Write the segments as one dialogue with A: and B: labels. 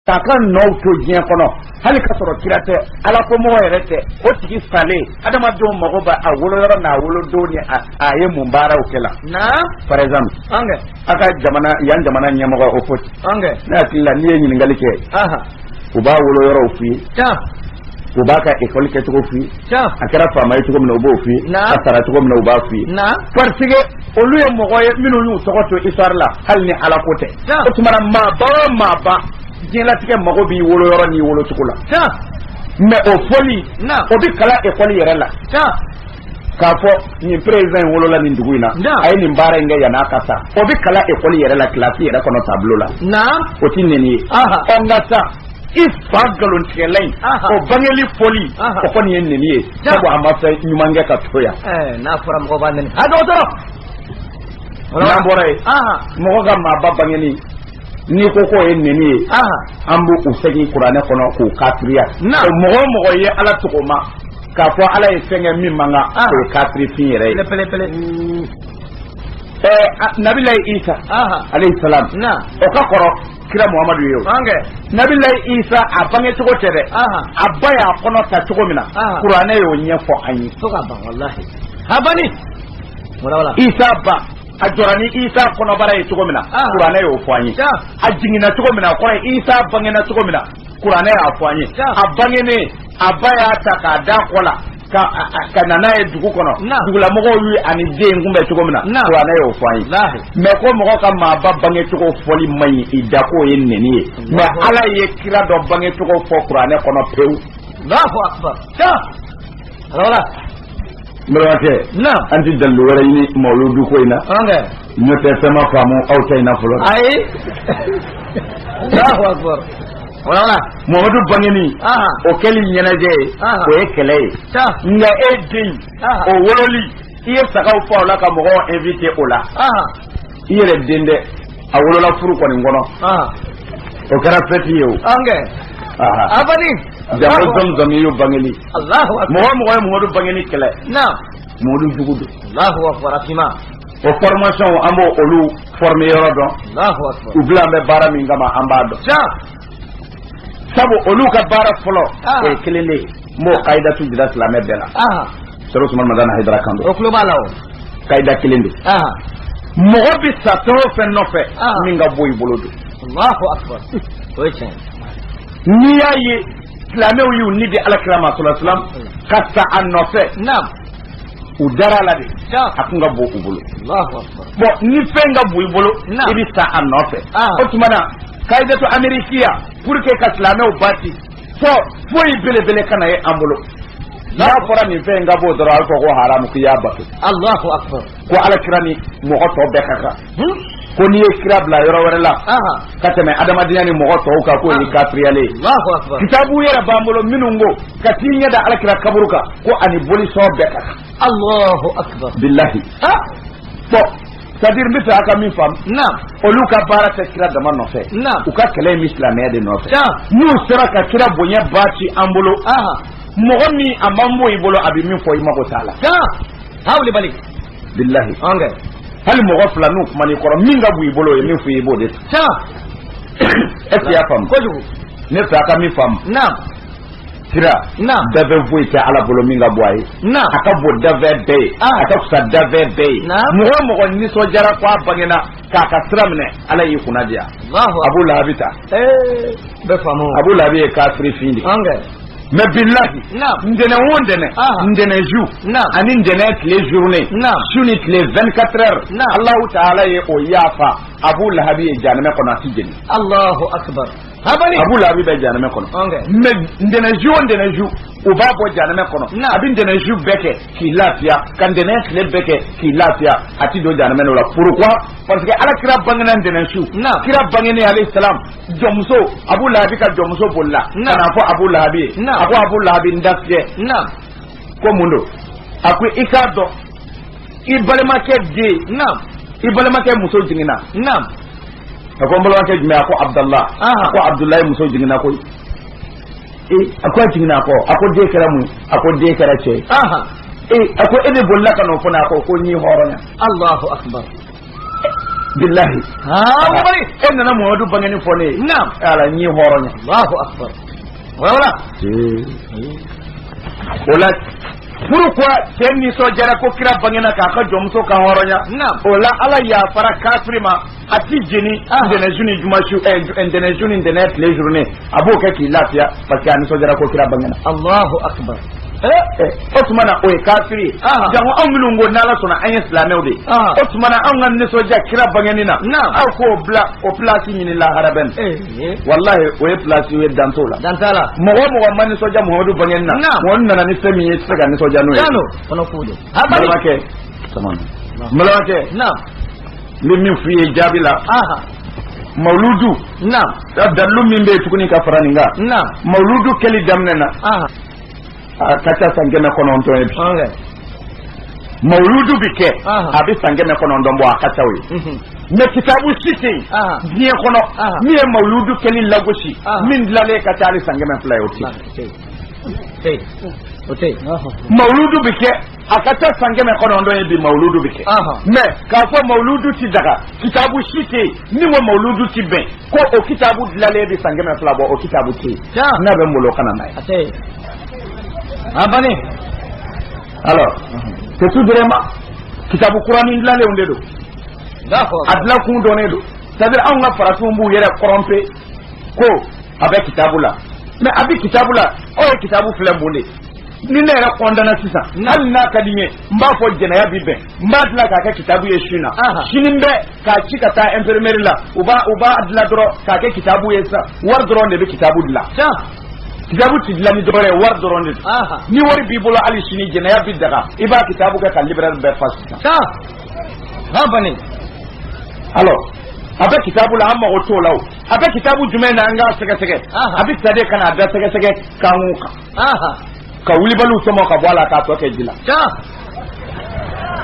A: k'a ka nɔw to diɲɛ kɔnɔ hali ka sɔrɔ kira tɛ ala ko mɔgɔ yɛrɛ tɛ o tigi salen adamadenw mago bɛ a wolo yɔrɔ n'a wolodon ni a ye mun baaraw kɛ la par exemple an ka jamana yan jamana ɲɛmɔgɔ o foti ne hakili la n'i ye ɲininkali kɛ u b'a wolo yɔrɔw f'i ye u b'a ka ekɔli kɛcogo f'i ye a kɛra faama ye cogo min na u b'o f'i ye a sara cogo min na u b'a f'i ye parce que olu ye mɔgɔ ye minnu y'u tɔgɔ to histoire la hali ni ala ko tɛ o tuma na maaba o maaba diɲɛlatigɛ mago b'i wolo yɔrɔ n'i wolo cogo la mais o fɔli o bɛ kalan ekɔli yɛrɛ la k'a fɔ nin président in wolola nin dugu in na a ye nin baara in kɛ yan'a ka sa o bɛ kalan ekɔli yɛrɛ la kilasi yɛrɛ kɔnɔ tableau la o tɛ neni ye ɔ nka sa i fa nkalontigɛla in o bangeli fɔli o kɔni ye neni ye sabu a ma fɛn ɲuman kɛ ka to yan n'a fɔra mɔgɔ b'a nɛni a dɔgɔtɔrɔ n'an bɔra yen mɔgɔ ka maaba bangeni n'i ko k'o ye nɛni ye an bɛ u segin kuranɛ kɔnɔ k'u kafiriya mɔgɔ o mɔgɔ ye ala tɔgɔ ma k'a fɔ ala ye fɛn kɛ min man kan o ye kafirifin yɛrɛ ye nabilayi isa alayhi salam o ka kɔrɔ kira muhamadu ye o nabilayi isa a bange cogo tɛ dɛ a ba y'a kɔnɔ ta cogo min na kuranɛ y'o ɲɛfɔ an ye fo ka ban walahi a ba isa ba a jɔra ni isa kɔnɔbara ye cogo min na kuranɛ y'o fɔ an ye a jiginna cogo min na a kɔrɔ ye isa bangena cogo min na kuranɛ y'a fɔ an ye a bangenen a ba y'a ta k'a d'a kɔ la ka ka na n'a ye dugu kɔnɔ dugulamɔgɔw y'a ni den kunbɛn cogo min na kuranɛ y'o fɔ an ye mais ko mɔgɔ ka maaba bangecogo fɔli man ɲi i da k'o ye neni ye mais ala ye kira dɔ bangecogo fɔ kuranɛ kɔnɔ pewu bɛrɛmakɛ an tɛ dalilu wɛrɛ ɲini mawuludu ko in na ɲɔ tɛ fɛn ma faamu aw tɛ in na fɔlɔ ayi muhamadu bangeni o kɛli ɲɛnajɛ ye o ye kɛlɛ ye nka e den o wololi i ye sagaw faga o la ka mɔgɔw inviter o la i yɛrɛ den dɛ a wolola furu kɔni kɔnɔ o kɛra fɛti ye o a jamumu ye bangeli mɔgɔ o mɔgɔ ye muhamadu bangeni kɛlɛ muhamadu jugu don o formation an b'o olu former yɔrɔ dɔn u bilalen bɛ baara min kama an b'a dɔn sabu olu ka baara fɔlɔ ah. o ye kelen de ye n b'o kayidatu jira silamɛ bɛɛ la serifu usumani madani hayidara kan don o tulo b'a la o kayida kelen de mɔgɔ bɛ sa fɛn o fɛn nɔfɛ min ka bon i bolo don o ye tiɲɛ n'i y'a ye silamɛw y'u ni di alakira ma salalahu alayhi wa salam ka sa a nɔfɛ u dara a la de a tun ka bon u bolo bon ni fɛn ka bon i bolo i bɛ sa a nɔfɛ o tuma na kayidatu amerikiya pour que ka silamɛw bati fo foyi belebele kana ye an bolo n'a fɔra nin fɛn in ka bon dɔrɔn a bɛ fɔ ko haramu k'i y'a bato ko ala kira ni mɔgɔ tɔ bɛɛ ka kan ko n'i ye kira bila yɔrɔ wɛrɛ la ka tɛmɛ adamadenya ni mɔgɔ tɔw kan k'o ye kafiriya le ye kitabu yɛrɛ b'an bolo minnu ko ka t'i ɲɛ da ala kira kaburu kan ko ani bolisɔn bɛɛ ka kan bilahi bon c'est-à-dire n bɛ fɛ a ka min faamu olu ka baara tɛ kira dama nɔfɛ u ka kɛlɛ in bɛ silamɛya de nɔfɛ n'u sera ka kira bonya ba ci an bolo mɔgɔ min a man bon i bolo a bɛ min fɔ i mago t'a la alahu akbar bilahi an kɛ hali mɔgɔ fila n'u kumana i kɔrɔ min ka bon i bolo o ye min fɔ i ye i b'o de ta tiɲɛ est ce que i y'a faamu kojugu ne fɛ a ka min faamu naam kira naam dafɛn foyi tɛ ala bolo min ka bon a ye naam a ka bon dafɛn bɛɛ ye Ah. a ka fisa dafɛn bɛɛ ye Naam. mɔgɔ o mɔgɔ nisɔndiyara ko a bangena k'a ka sira minɛ ala y'i kunna diya alahu abu lahabi ta ee bɛɛ faamu abu lahabi ye kafiri fin de ye an kɛ mais bilahi ntɛnɛn o ntɛnɛn ntɛnɛn su ani ntɛnɛn tile journée su ni tile 24 heures alahu taala ye o yafa abu lahabi ye jahanamɛ kɔnɔ a ti jeni alahu akbar abu lahabi bɛ jahanamɛ kɔnɔ mais ntɛnɛn su o ntɛnɛn su u b'a bɔ jahanamɛ kɔnɔ a bɛ ntɛnɛn su bɛɛ kɛ k'i lafiya ka ntɛnɛn tile bɛɛ kɛ k'i lafiya a ti don jahanamɛ n'o la pourquoi parce que ala kira bangena ntɛnɛn su kira bangenen alayhi salam jɔnmuso abu lahabi ka jɔnmuso bolila ka n'a fɔ abu lahabi ye a ko abu lahabi n jatigikɛ ko mun don a ko i k'a dɔn i balimakɛ den i balimakɛ muso jiginna a ko n balimakɛ jumɛn a ko abudulayi a ko abudulayi muso jiginna koyi ee a ko a jiginna a ko a ko den kɛra mun a ko den kɛra cɛ ye ee a ko e de bolila ka n'o fɔ ne a ko ko n y'i hɔrɔnya alahu akibaru bilahi e nana mamadu bangenni fɔ ne ye ala n y'i hɔrɔnya alahu akbar wala o la pourquoi cɛ nisɔndiyara ko kira bangena k'a ka jɔnmuso ka hɔrɔnya o la ala yafara kafiri ma a ti jeni ntɛnɛnsu ni jumasu ntɛnɛnsu ni ntɛnɛn tile journée a b'o kɛ k'i lafiya parce que a nisɔndiyara ko kira bangena allahu akbar eh, eh, o tuma na o ye kafiri ye jango anw minnu ko n'ala sɔnna an ye silamɛw de ye o tuma na anw ka nisɔndiya kira bangenni na aw k'o bila o pilasi ɲini lahara bɛ eh, walahi o ye pilasi ye dan t'o la dan t'a la mɔgɔ o mɔgɔ ma nisɔndiya mamadu bangenni na mɔgɔ nana ni fɛn min ye i tɛ se ka nisɔndiya n'o ye balimakɛ balimakɛ n bɛ min f'i ye jaabi la mawuludu ka dalilu min bɛ yen tuguni ka fara nin kan mawuludu kɛli daminɛna a ka ca san kɛmɛ kɔnɔntɔn ye bi mawuludu bɛ kɛ a bɛ san kɛmɛ kɔnɔntɔn bɔ a ka ca o ye mais kitabu si tɛ yen diɲɛ kɔnɔ min ye mawuludu kɛli lagosi min dilanlen ka ca hali san kɛmɛ fila ye o tɛ yen mawuludu bɛ kɛ a ka ca san kɛmɛ kɔnɔntɔn ye bi mawuludu bɛ kɛ mais k'a fɔ mawuludu ti daga kitabu si tɛ ni ko mawuludu ti bɛn ko o kitabu dilanlen bɛ san kɛmɛ fila bɔ o kitabu tɛ yen n'a bɛ n bolo ka na n'a ye a bannen alors c'est tout vraiment kitabu kuranin dilanlenw de don a dilan kun dɔnnen don c'est à dire anw ka farafinw b'u yɛrɛ tromper ko a bɛ kitabu la mais a bɛ kitabu la aw ye kitabu filɛ mun de ni ne yɛrɛ kɔndana sisan hali n'a ka di n ye n b'a fɔ jɛnɛya bi bɛn n b'a dilan k'a kɛ kitabu ye su na sini bɛ k'a ci ka taa imprimerie la u b'a u b'a dilan dɔrɔn k'a kɛ kitabu ye sisan wari dɔrɔn de bɛ kitabu dilan kitabu ti dilan ni dɔwɛrɛ ye wari dɔrɔn de don ni wari b'i bolo hali sini jɛnɛya bi daga i b'a kitabu kɛ ka librairie bɛɛ fa sisan ha bani alors a bɛ kitabu la an mago t'o la o a bɛ kitabu jumɛn na an k'a sɛgɛsɛgɛ a bɛ sariya ka na a da sɛgɛsɛgɛ kan o kan ka wulibaliw tɔmɔ ka bɔ a la k'a tɔ kɛ ji la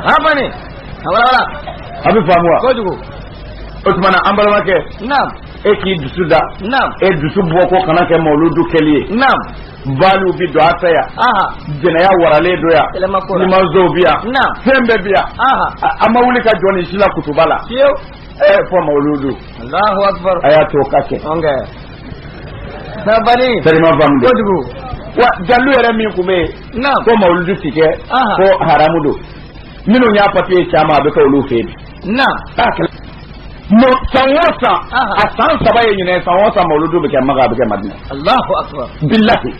A: hafani a walawala a b'a faamu wa kojugu o tuma na an balimakɛ naam e k'i dusu da naam e dusu bɔ ko kana kɛ mawuludu kɛli ye naam baliw bi dɔn an fɛ yan jɛnɛya waralen don yan limanzow bi yan fɛn bɛɛ bi yan an ma wuli ka jɔ nin si la kutuba la ɛɛ fo mawuludu a y'a to o ka kɛ kojugu wa dalilu yɛrɛ min tun bɛ yen ko mawuludu ti kɛ ko haramu don minnu y'a papiye caman a bɛ kɛ olu fɛ yen mɔ san o san a san saba ye ɲinan san o san mawuludu bɛ kɛ maga a bɛ kɛ madina bilahi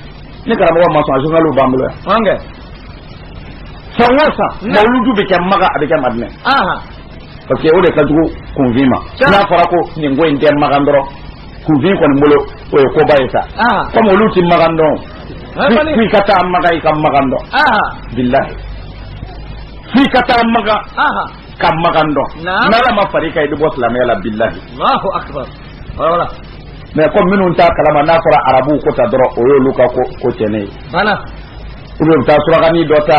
A: ni karamɔgɔ ma sɔn a journal b'an bolo yan san o san mawuludu bɛ kɛ maga a bɛ kɛ madina parce que o de ka jugu kunfin ma n'a fɔra ko nin ko in tɛ magan dɔrɔn kunfin kɔni bolo o ye koba ye sa comme olu tɛ magan dɔn f'i ka taa magan i ka magan dɔn bilahi f'i ka taa magan ka magan dɔn n'ala ma fara i kan i bɛ bɔ silamɛya la bilahi mais comme minnu t'a kalama n'a fɔra arabuw ko tan dɔrɔn o y'olu ka ko ko cɛnnen ye ou bien u bɛ taa surakanin dɔ ta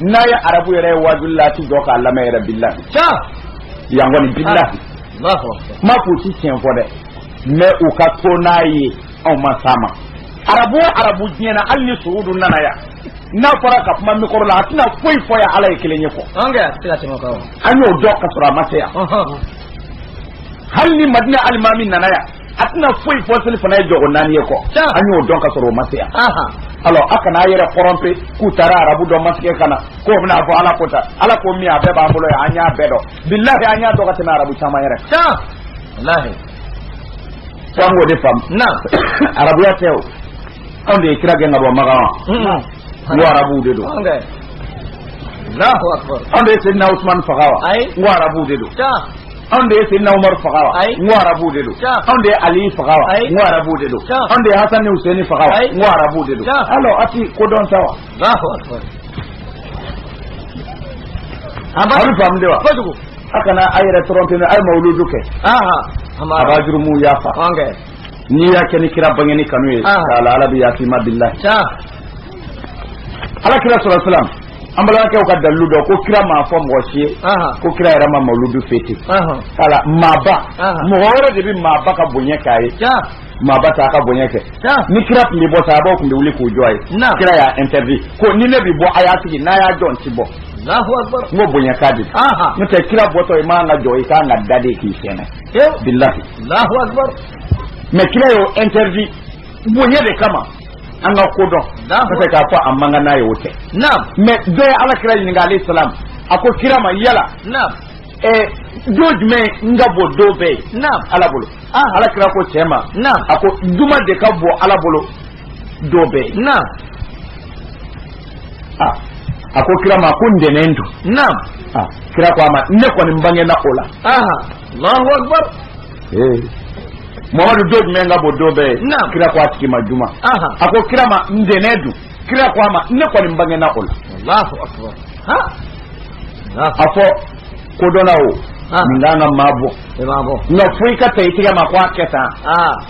A: n'a ye arabu yɛrɛ ye wajuli la a ti jɔ k'a lamɛn yɛrɛ bilahi yan kɔni bilahi n m'a fɔ k'u ti tiɲɛ fɔ dɛ mɛ u ka to n'a ye anw ma s'a ma arabu o arabu diɲɛ na hali ni suudu nana yan n'a fɔra ka kuma mikɔrɔ la a tɛna foyi fɔ yan ala ye kelen ye kɔ an y'o dɔn ka sɔrɔ a ma se yan hali ni madina alimami nana yan a tɛna foyi fɔ seli fana ye jɔko naani ye kɔ an y'o dɔn ka sɔrɔ o ma se yan alɔ a kana a yɛrɛ tɔrɔnpe k'u taara arabu dɔ masigɛ ka na k'o bɛna fɔ ala ko ta ala ko min a bɛɛ b'an bolo yan an y'a bɛɛ dɔn bilahi an y'a dɔn ka tɛmɛ arabu caman yɛrɛ kan f'an k'o de faamu na arabuya tɛ o anw de ye kira gɛn ka bɔ makan wa n ko arabuw de don anw de ye sedina usumani faga wa n ko arabuw de don anw de ye sedina umaru faga wa n ko arabuw de don anw de ye ali faga wa n ko arabuw de don anw de ye hasan ni huseni faga wa n ko arabuw de don alɔ a ti ko dɔn sa wa a bɛ faamu de wa a kana a yɛrɛ tɔrɔnpe a ye mawuludu kɛ a b'a jurumuw yafa n'i y'a kɛ ni kira bangeni kanu ye k'a la ala bɛ yafa i ma bilahi ala kira salalahu alayhi wa salam an balimakɛw ka dalilu dɔ ko kira m'a fɔ mɔgɔ si ye ko kira yɛrɛ ma mawuludu fete voilà maaba mɔgɔ wɛrɛ de bɛ maaba ka bonya k'a ye maaba t'a ka bonya kɛ ni kira tun bɛ bɔ sahabaw tun bɛ wuli k'u jɔ a ye kira y'a interdit ko ni ne bɛ bɔ a y'a sigi n'a y'a jɔ n ti bɔ n ko bonya k'a di n'o tɛ kira bɔtɔ i man ka jɔ i kan ka da de k'i fɛɛnɛ bilahi mɛ kira y'o interdit bonya de kama an ka ko dɔn parce que k'a fɔ a man kan n'a ye o tɛ mais dɔ ye ala kira ɲininka alayhi salam a ko kira ma yala eh, don jumɛn ka bon don bɛɛ ye ala bolo ah. ala kira ko cɛ ma a ko juma de ka bon ala bolo don bɛɛ ye ah. a ko kira ma ko ntɛnɛn dun ah. kira ko a ma ne kɔni n bangena o la allahu akbar hey. mamadu don jumɛn ka bon don bɛɛ ye kira ko a tigi ma juma a ko kira ma ntɛnɛn dun kira ko a ma ne kɔni n bangena o la a fɔ kodɔnna o nin kan ka maa bɔ nka fo i ka ta i tigɛ ma ko a kɛ tan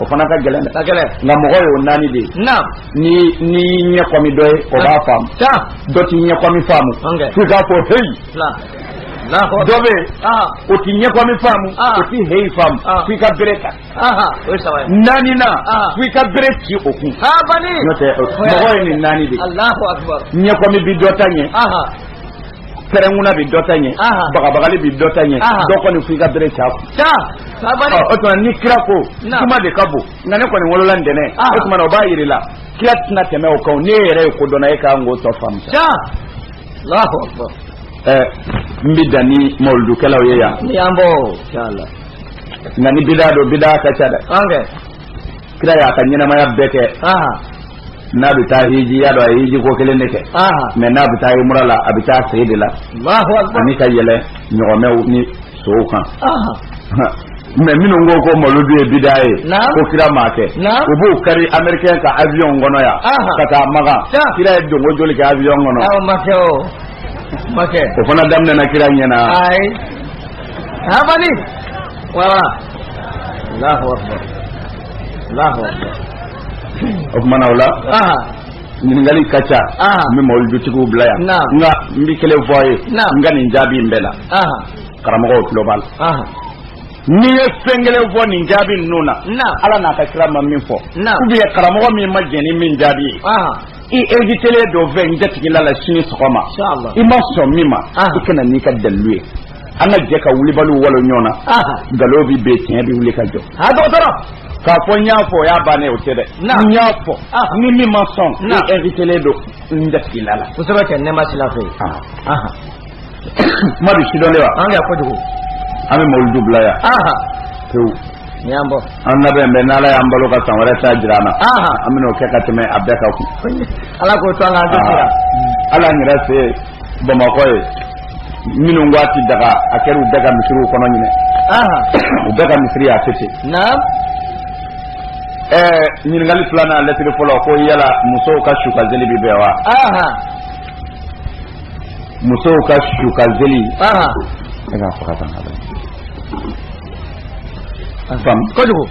A: o fana ka gɛlɛn dɛ nka mɔgɔ y'o naani de ye n'i y'i ɲɛkɔmi dɔ ye o b'a faamu dɔ t'i ɲɛkɔmi faamu f'i k'a fɔ heyi dɔ bɛ o ti ɲɛkɔmi faamu o ti heyi faamu f'i ka bere ta naaninan f'i ka bere ci o kun n'o tɛ mɔgɔ ye nin naani de ɲɛkɔmi bi dɔ ta ɲɛ pɛrɛnkunna bi dɔ ta ɲɛ bagabagali bi dɔ ta ɲɛ dɔ kɔni f'i ka bere ci a kun o tuma ni kira ko juma de ka bon nka ne kɔni wolola ntɛnɛn o tuma o b'a yir'i la kira tɛna tɛmɛ o kan n'e yɛrɛ ye kodɔnna ye i kan k'o tɔ faamu n bɛ dan ni mawuludukɛlaw ye yan ni y'an bɔ nka ni bida don bida ka ca dɛ kira y'a ka ɲɛnamaya bɛɛ kɛ n'a bɛ taa hiji i y'a dɔn a ye hiji ko kelen de kɛ mɛ n'a bɛ taa yumura la a bɛ taa sen de la ani ka yɛlɛ ɲɔgɔmɛw ni so kan mɛ minnu ko ko mawludu ye bida ye ko kira m'a kɛ u b'u kari americain ka avion kɔnɔ yan ka taa maka kira ye donko joli kɛ avion kɔnɔ o fana daminɛna kira ɲɛ na ayi abali wala Allahu akbar Allahu akbar o kumana o la ɲininkali ka ca n bɛ mawuludutigiw bila yan nka n bɛ kelen fɔ a ye n ka nin jaabi in bɛɛ la karamɔgɔw tulo b'a la n'i ye fɛn kelen fɔ nin jaabi ninnu na ala n'a ka kira ma min fɔ ou bien karamɔgɔ min ma jɛn ni min jaabi ye i invitelen don n fɛ n jatigila la sini sɔgɔma i ma sɔn min ma i ka na n'i ka dalilu ye an ka jɛ ka wulibaliw walon ɲɔgɔn na nkalon bɛ bin tiɲɛ bɛ wuli ka jɔ k'a fɔ n y'a fɔ o y'a bannen o tɛ dɛ n y'a fɔ ni min ma sɔn i invitelen don n jatigila la kosɛbɛ kɛ nɛɛma sira fɛ kuma bi sidɔn de wa an ka kojugu an bɛ mawuludu bila yan pewu y'an bɔ an labɛn bɛ n'ala y'an balo ka san wɛrɛ ta jira an na an bɛn'o kɛ ka tɛmɛ a bɛɛ ka kun ala k'o to an ka an tɛ sira ala an yɛrɛ fɛ bamakɔ ye minnu ko a ti daga a kɛra u bɛɛ ka misiriw kɔnɔ ɲinan u bɛɛ ka misiri y'a tɛ ten ɛɛ ɲininkali filanan lɛtiri fɔlɔ ko yala musow ka sukanseli bi bɛn wa musow ka sukanseli e ka faga tan fam kojugu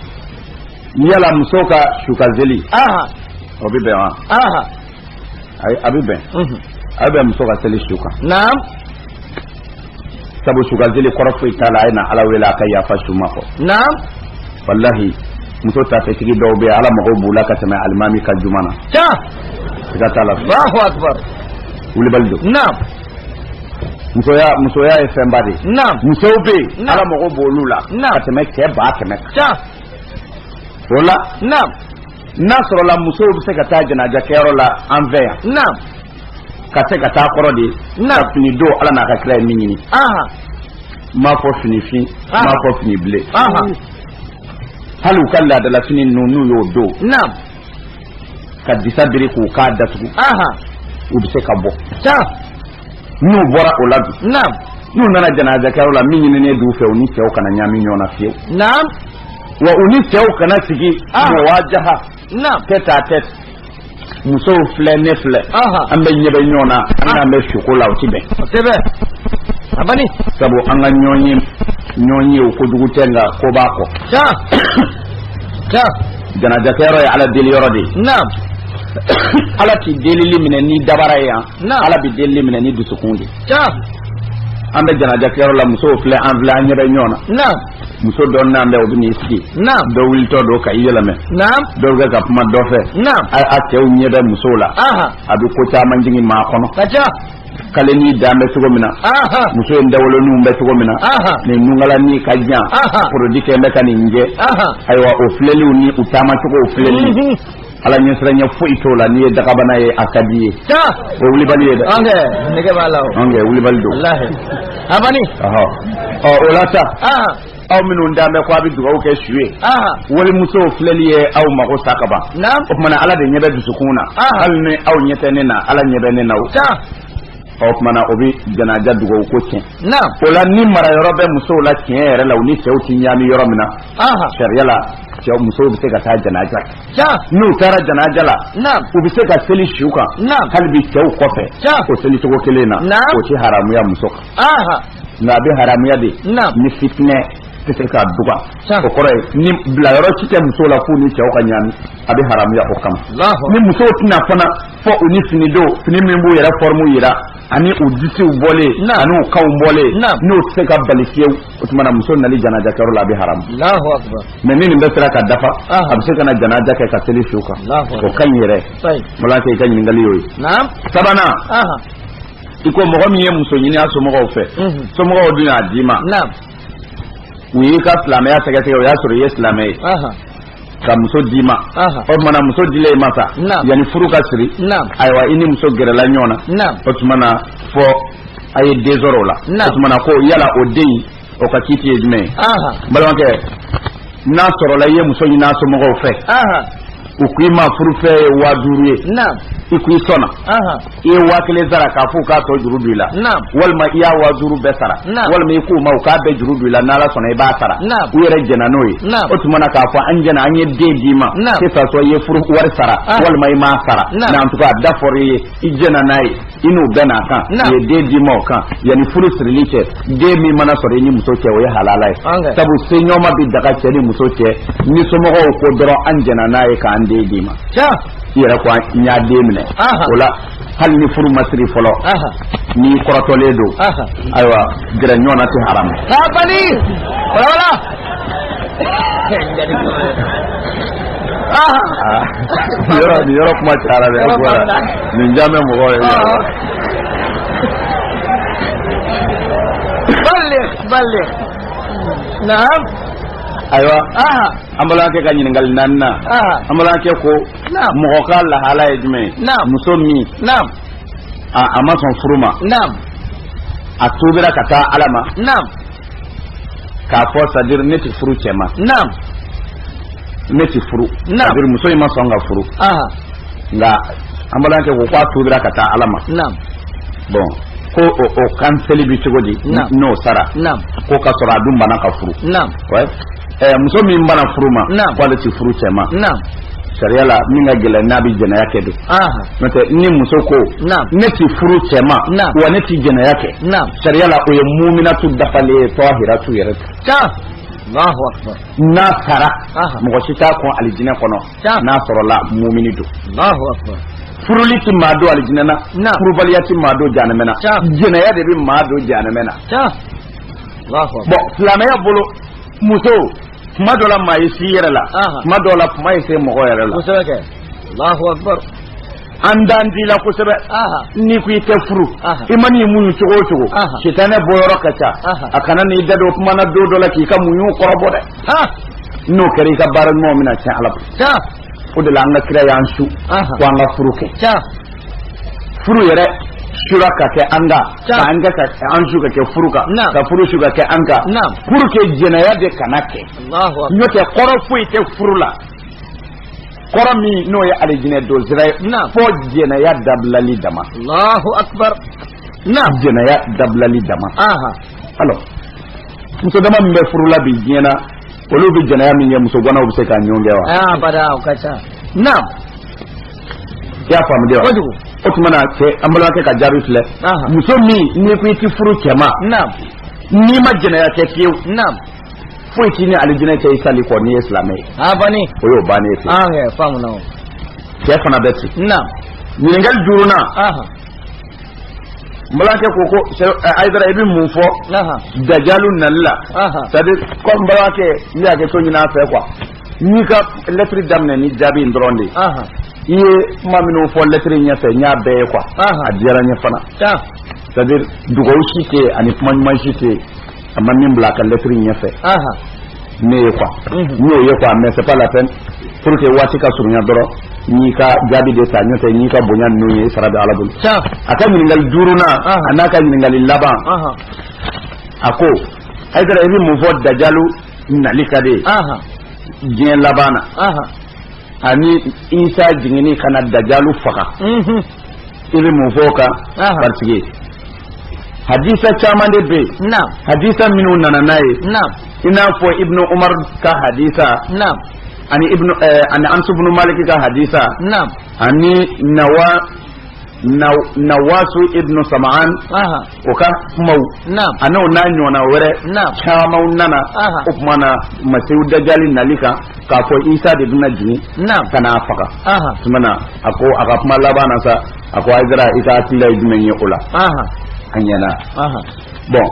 A: yala muso ka sukanseli o bɛ bɛn wa a bɛ bɛn a bɛ bɛn muso ka seli su kan sabu sukanseli kɔrɔ foyi t'a la a ye na ala wele a ka yafa su ma kɔ naam walahi muso tafetigi dɔw bɛ ala mago b'u la ka tɛmɛ alimami kan juma na ca siga t'a la allahu akbar wulibali don naam musoya musoya ye fɛnba de ye naam musow bɛ yen Naam. ala mago b'olu la Naam. ka tɛmɛ cɛ ba kɛmɛ kan ca o la naam n'a sɔrɔla musow bɛ se ka taa janajakɛyɔrɔ la an fɛ yan naam ka se ka taa kɔrɔ de na fini don ala n'a ka kira ye min ɲini m'a fɔ fini fin m'a fɔ fini ble hali u ka laadala fini ninnu n'u y'o don ka disa biri k'u kan datugu u bɛ se ka bɔ n'u bɔra o la bi n'u nana janazakɛyɔrɔ la min ɲininen d'u fɛ u ni cɛw kana ɲami ɲɔgɔn na fewu wa u ni cɛw kana sigi muwajaha tête à tête musow filɛ ne filɛ an bɛ ɲɛ bɛ ɲɔgɔn na an n'an bɛ suko la o ti bɛn kosɛbɛ a bani sabu an ka ɲɔgɔn ye ɲɔgɔn ye o kojugu tɛ nka ko b'a kɔ can can janajakɛyɔrɔ ye ala deli yɔrɔ de ye naam ala ti delili minɛ ni dabara ye yan ala bi delili minɛ ni dusukun de ye an bɛ janajakɛyɔrɔ la musow filɛ an filɛ an ɲɛ bɛ ɲɔgɔn na naam muso dɔ nan bɛ o bɛ n'i sigi naam dɔ wulitɔ don ka i yɛlɛmɛ naam dɔ bɛ ka kuma dɔ fɛ naam a a cɛw ɲɛ bɛ musow la aha a bɛ ko caman jigin maa kɔnɔ ka ca kalenin dan bɛ cogo min na aha muso in dawoloninw bɛ cogo min na aha nin nunkalanin ka jan Aha. produit kɛ bɛ ka nin jɛ aha ayiwa o filɛliw ni u taamacogow filɛli Mhm. ala ɲɛsiranya foyi t'o la n'i ye dagabana ye a ka d'i ye o ye wulibali ye dɛ an kɛ nege b'a la o an kɛ wulibali don walahi abani ɔhɔ ɔ o la sa ah aw minnu nan bɛ ko a bɛ dugawu kɛ su ye ah walimuso filɛli ye aw mago sa ka ban naam o tumana ala de ɲɛ bɛ dusukun na Ah. hali ni aw ɲɛ tɛ ne na ala ɲɛ bɛ ne na o sa o tumana o bɛ janaja dugawu ko tiɲɛ naam o la ni mara yɔrɔ bɛ musow la tiɲɛ yɛrɛ la u ni cɛw ti ɲaami yɔrɔ min na ah sariya la cɛw musow bɛ se ka taa janaja kɛ n'u taara janaja la u bɛ se ka seli su kan hali bi cɛw kɔfɛ o seli cogo kelen na o tɛ haramuya muso kan nka a bɛ haramuya de ni fitinɛ tɛ se ka duga o kɔrɔ ye ni bilayɔrɔ si tɛ musow la f'u ni cɛw ka ɲaami a bɛ haramuya o kama ni musow tɛ na fana fɔ u ni fini dɔw fini min b'u yɛrɛ forme jira ani u disiw bɔlen ani u kanw bɔlen n'o tɛ se ka bali fiyewu o tuma na muso nali janajakɛyɔrɔ la a bɛ haramu Alahu akibaru. mais ni nin bɛɛ sera ka dafa Aha. a bɛ se ka na janaja kɛ ka seli su kan Alahu akibaru. o ka ɲi yɛrɛ Sayi. balimakɛ i ka ɲininkali y'o ye Naam. sabanan Aha. i ko mɔgɔ min ye muso ɲini a somɔgɔw fɛ Mhm. somɔgɔw dun y'a d'i ma Naam. u y'i ka silamɛya sɛgɛsɛgɛ o y'a sɔrɔ i ye silamɛ ye Aha. ka muso d'i ma o tumana muso dila i ma sa yanni furu ka siri ayiwa i ni muso gɛrɛla ɲɔgɔn na o tumana fɔ a ye den sɔrɔ o la o tumana ko yala o den o ka kiiti ye jumɛn ye balimakɛ n'a sɔrɔla i ye muso ɲini a somɔgɔw fɛ u k'i ma furufɛn ye waa duuru ye i k'i sɔnna i ye waa kelen sara k'a fɔ u k'a tɔ juru don i la walima i ye waa duuru bɛɛ sara walima i k'u ma u k'a bɛɛ juru don i la n'ala sɔnna i b'a sara u yɛrɛ jɛna n'o ye o tuma na k'a fɔ an jɛna an ye den d'i ma que ça soit i ye furu wari sara ah. walima i m'a sara mais en tout cas a da fɔra i ye i jɛna n'a ye i n'u bɛnn'a kan u ye den d'i ma o kan yanni furu sirili cɛ den min mana sɔrɔ i ni muso cɛ o ye halala ye sabu seɲɔgɔnma bɛ daga cɛ ni muso cɛ ni somɔgɔw ko dɔrɔn an jɛna n'a ye k'an den d'i ma i yɛrɛ ko n y'a den minɛ o la hali ni furu ma siri fɔlɔ n'i kɔrɔtɔlen don ayiwa gɛrɛ ɲɔgɔn na tɛ haramu yɔrɔ nin yɔrɔ kuma cayara dɛ nin ja bɛ mɔgɔ ye balik balik naam ayiwa an balimakɛ ka ɲininkali naaninan an balimakɛ ko mɔgɔ ka lahala ye jumɛn ye muso min a ma sɔn furu ma a tuubira ka taa ala ma k'a fɔ c'est à dire ne tɛ furu cɛ ma ne tɛ furu c'est à dire muso in ma sɔn ka furu nka an balimakɛ ko k'a tuubira ka taa ala ma bɔn ko o kanseli bɛ cogo di n'o sara ko ka sɔrɔ a dun bana ka furu muso min banna furu ma k'ale tɛ furu cɛ ma sariya la min ka gɛlɛn n'a bɛ jɛnɛya kɛ don n'o tɛ ni muso ko ne tɛ furu cɛ ma wa ne tɛ jɛnɛya kɛ sariya la o ye muminatu dafalen ye tɔhiratu yɛrɛ ta n'a sara mɔgɔ si t'a kɔn alijinɛ kɔnɔ n'a sɔrɔla mumini don furuli tɛ maa don alijinɛ na furubaliya tɛ maa don janɛmɛ na jɛnɛya de bɛ maa don janɛmɛ na bɔn silamɛya bolo muso kuma dɔ la maa ye s'i yɛrɛ la kuma dɔ la kuma ye se mɔgɔ yɛrɛ la an dan t'i la kosɛbɛ n'i ko i tɛ furu i man'i muɲu cogo o cogo sitanɛ bɔyɔrɔ ka ca a kana n'i da don kuma na don dɔ la k'i ka muɲu kɔrɔbɔ dɛ n'o kɛra i ka baara ɲumanw bɛna tiɲɛ ala bolo o de la an ka kira y'an su ko an ka furu kɛ furu yɛrɛ sura ka kɛ an ka ka an ka an su ka kɛ furu kan ka furu su ka kɛ an ka furu kɛ jɛnɛya de kana kɛ n'o tɛ kɔrɔ foyi tɛ furu la kɔrɔ min n'o ye alijinɛ don sira ye fɔ jɛnɛya dabilali dama jɛnɛya dabilali dama alors muso dama min bɛ furu la bi diɲɛ na olu bɛ jɛnɛya min kɛ muso ganaw bɛ se k'a ɲɔgɔn kɛ wa. aa ah, bada o ka ca naam. i y'a faamu de wa. kojugu. o tuma na cɛ an balimakɛ ka jaabi filɛ. muso min n'i ko i ti furu cɛ ma. naam. n'i ma jɛnɛya kɛ fiyewu. naam. foyi t'i ni alijinɛ cɛ i salen kɔ n'i ye silamɛ ye. a ah, banni. o y'o bannen ye. aa ah, kɛ faamu na o. cɛ fana bɛ ten. naam. ɲininkali duurunan. n balimakɛ ko ko eh, ayidara i bɛ mun fɔ dajalu nali la c'est à dire ko n balimakɛ n bɛ hakɛto ɲini a fɛ quoi n y'i ka lɛtiri daminɛ ni jaabi in dɔrɔn de ye i ye kuma minnu fɔ lɛtiri ɲɛfɛ n y'a bɛɛ ye quoi a diyara n ye fana c'est à dire dugawu si tɛ yen ani kuma ɲuman si tɛ yen a ma min bila a ka lɛtiri ɲɛfɛ ne ye quoi n'o ye quoi mais c'est pas la peine pour que waati ka surunya dɔrɔn n y'i ka jaabi de ta n'o tɛ n y'i ka bonya ninnu ye sara bɛ ala bolo a ka ɲininkali duurunan an'a ka ɲininkali laban a ko ayidara i bɛ mun fɔ dajalu nali kan de diɲɛ laban na ani isa jiginni ka na dajalu faga i bɛ mun fɔ o kan parce que hadisa caman de bɛ yen naam hadisa minnu nana n'a ye naam i n'a fɔ ibnu umar ka hadisa naam ani ibnu ɛɛ eh, ani anasu ibnu maliki ka hadisa naam ani nawa naw nawasu ibnu sama'an aha o ka kumaw naam ani o n'a ɲɔgɔnna wɛrɛ naam camanw nana Aha. o tuma na masihu dajali nali kan k'a fɔ isa de bɛna jigin naam ka n'a faga aha tuma na a ko a ka kuma laban na sa a ko ayidara i ka hakilila ye jumɛn ye o la a ɲɛ na bon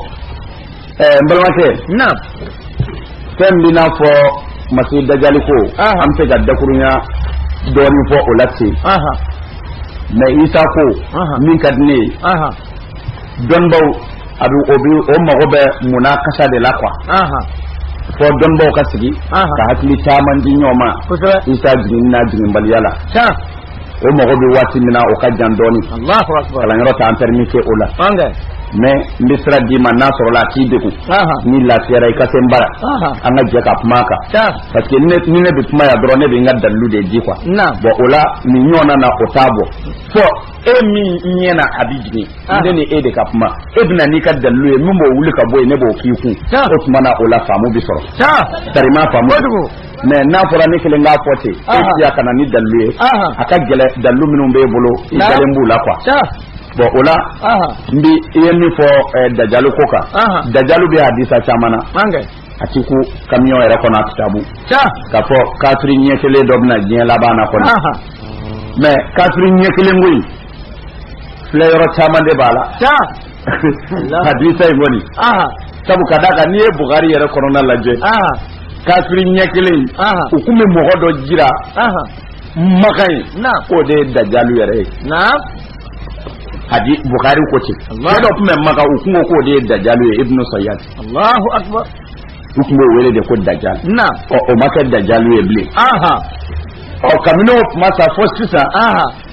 A: eh, n balimakɛ fɛn min n'a fɔ masi dajali ko an bɛ se ka dakurunya dɔɔnin fɔ o la ten mais isa ko min ka di ne ye dɔnnibaw a bɛ o bɛ o mago bɛ mun na kasa de la quoi fo dɔnnibaw ka sigi ka hakili caman di ɲɔgɔn ma isa jiginni n'a jiginbaliya la o mago bɛ waati min na o ka jan dɔɔnin kalanyɔrɔ t'an pɛrimɛti o la mais n bɛ sira d'i ma n'a sɔrɔla a t'i degun n'i lafiyara i ka se n bara an ka jɛ ka kuma a kan parce que ni ne bɛ kuma yan dɔrɔn ne bɛ n ka dalilu de di quoi bon o la nin ɲɔgɔnna na o t'a bɔ fo e min ɲɛ na a bɛ jigin ne ni e de ka kuma e bɛna n'i ka dalilu ye min b'o wuli ka bɔ yen ne b'o k'i kun o tuma na o la faamu bɛ sɔrɔ sarima faamu mais n'a fɔra ne kelen k'a fɔ ten e ti yan ka na ni dalilu ye a ka gɛlɛn dalilu minnu b'e bolo i dalen b'u la quoi bon o la n bi i ye min fɔ dajalu ko kan dajalu bɛ hadisa caman na a ti kun kamiyɔn yɛrɛ kɔnɔ a kitabu k'a fɔ kafiri ɲɛ kelen dɔ bɛ na diɲɛ laban na kɔni mais kafiri ɲɛ kelen ko in filɛyɔrɔ caman de b'a la hadisa in kɔni sabu ka d'a kan n'i ye bukari yɛrɛ kɔnɔna lajɛ kafiri ɲɛ kelen u tun bɛ mɔgɔ dɔ jira maka yen k'o de ye dajalu yɛrɛ ye hali bukari ko ten cɛ dɔ tun bɛ maka u tun ko k'o de ye dajalu ye ibnu sayyad allahu akbar u tun b'o wele de ko dajal ɔ o ma kɛ dajalu ye bilen ɔ kabini o tuma sa fo sisan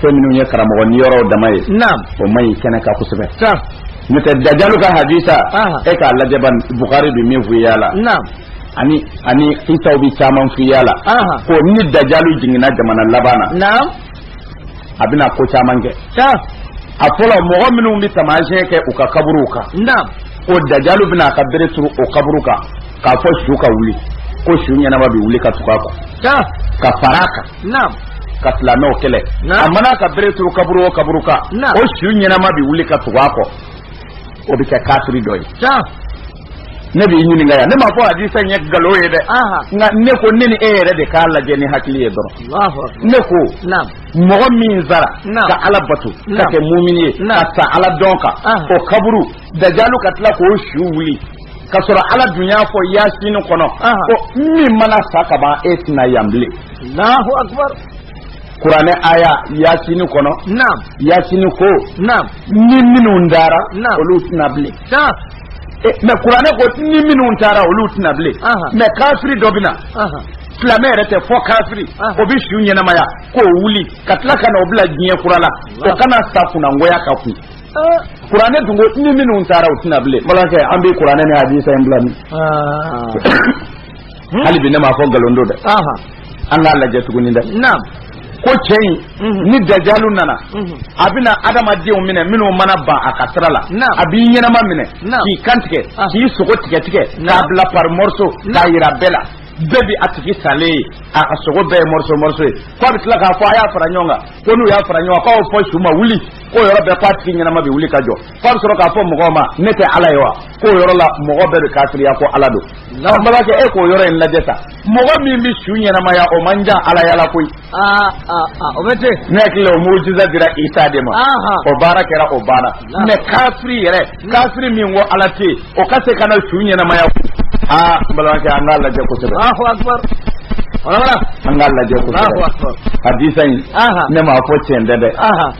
A: fɛn minnu ye karamɔgɔ niyɔrɔ dama ye naam o man ɲi kɛnɛ kan kosɛbɛ sa n'o tɛ dajalu ka hadisa Aha. e k'a lajɛ ban bukari bɛ min f'i y'a la naam ani ani isaw bɛ caman f'i y'a la Aha. ko ni dajalu jiginna jamana laban na naam a bɛna ko caman kɛ sa a fɔlɔ mɔgɔ minnu bɛ taamasiyɛn kɛ u ka kaburuw kan naam ko dajalu bɛna a ka bere turu o kaburu kan k'a fɔ su ka wuli ko su ɲɛnama bɛ wuli ka tugu a kɔ sa ka fara a kan naamu ka silamɛw kɛlɛ a mana ka bere turu kaburu o kaburu kan o su ɲɛnama bi wuli ka tugu a kɔ o bɛ kɛ kafiri dɔ ye ne b'i ɲininka yan ne m'a fɔ hadisa ye nkalon ye dɛ nka ne ko ne ni e yɛrɛ de k'a lajɛ ni hakili ye dɔrɔn ne ko mɔgɔ min sara ka ala bato ka kɛ mumini ye ka sa ala dɔn kan o kaburu dajalu ka tila k'o su wuli ka sɔrɔ ala dun y'a fɔ yasini kɔnɔ ko min mana sa ka ban e tɛ na yan bilen Allahu akbar kuranɛ aya yasini kɔnɔ naam yasini ko naam ni minnu taara olu tɛ na bilen e, mɛ kuranɛ ko ni minnu taara olu tɛ na bilen mɛ kafiri dɔ bɛ na silamɛ yɛrɛ tɛ fɔ kafiri o bɛ su ɲɛnamaya k'o wuli ka tila ka na o bila diɲɛ kura la o ka na sa kunangoya kan kun Kuranɛ dun ni minnu taara u tɛ na bilen balimakɛ an bɛ kuranɛ ni hadisa in bila min hali bi ne ma fɔ nkalon don dɛ an k'a lajɛ tuguni dɛ ko cɛ in mhm. ni dajalu nana mhm. a bɛna adamadenw minɛ minnu mana ban a ka sira la a b'i ɲɛnama minɛ k'i kan tigɛ ah. k'i sogo tigɛ tigɛ k'a bila par morceau k'a yira bɛɛ la bɛɛ bi a tigi salen ye a sogo bɛɛ ye morceau morceau ye ko a bɛ tila k'a fɔ a y'a fara ɲɔgɔn kan ko n'u y'a fara ɲɔgɔn kan k'a b'a fɔ su ma wuli k'o yɔrɔ bɛɛ ko a tigi ɲɛnama bɛ wuli ka jɔ f'a bɛ sɔrɔ k'a fɔ mɔgɔw ma ne tɛ ala ye wa k'o yɔrɔ la mɔgɔ bɛɛ bɛ kafiriya ko ala don an balimakɛ e k'o yɔrɔ in lajɛ sa mɔgɔ min bɛ su ɲɛnamaya o man jan alaya la koyi o bɛ ten ne hakili la o mugujiza dira isa de ma o baara kɛra o banna mɛ kafiri yɛrɛ kafiri min ko ala tɛ o ka se ka na su ɲɛnamaya aa n balimakɛ an k'a lajɛ kosɛbɛ an k'a lajɛ kosɛbɛ hadisa in ne m'a fɔ tiɲɛ tɛ dɛ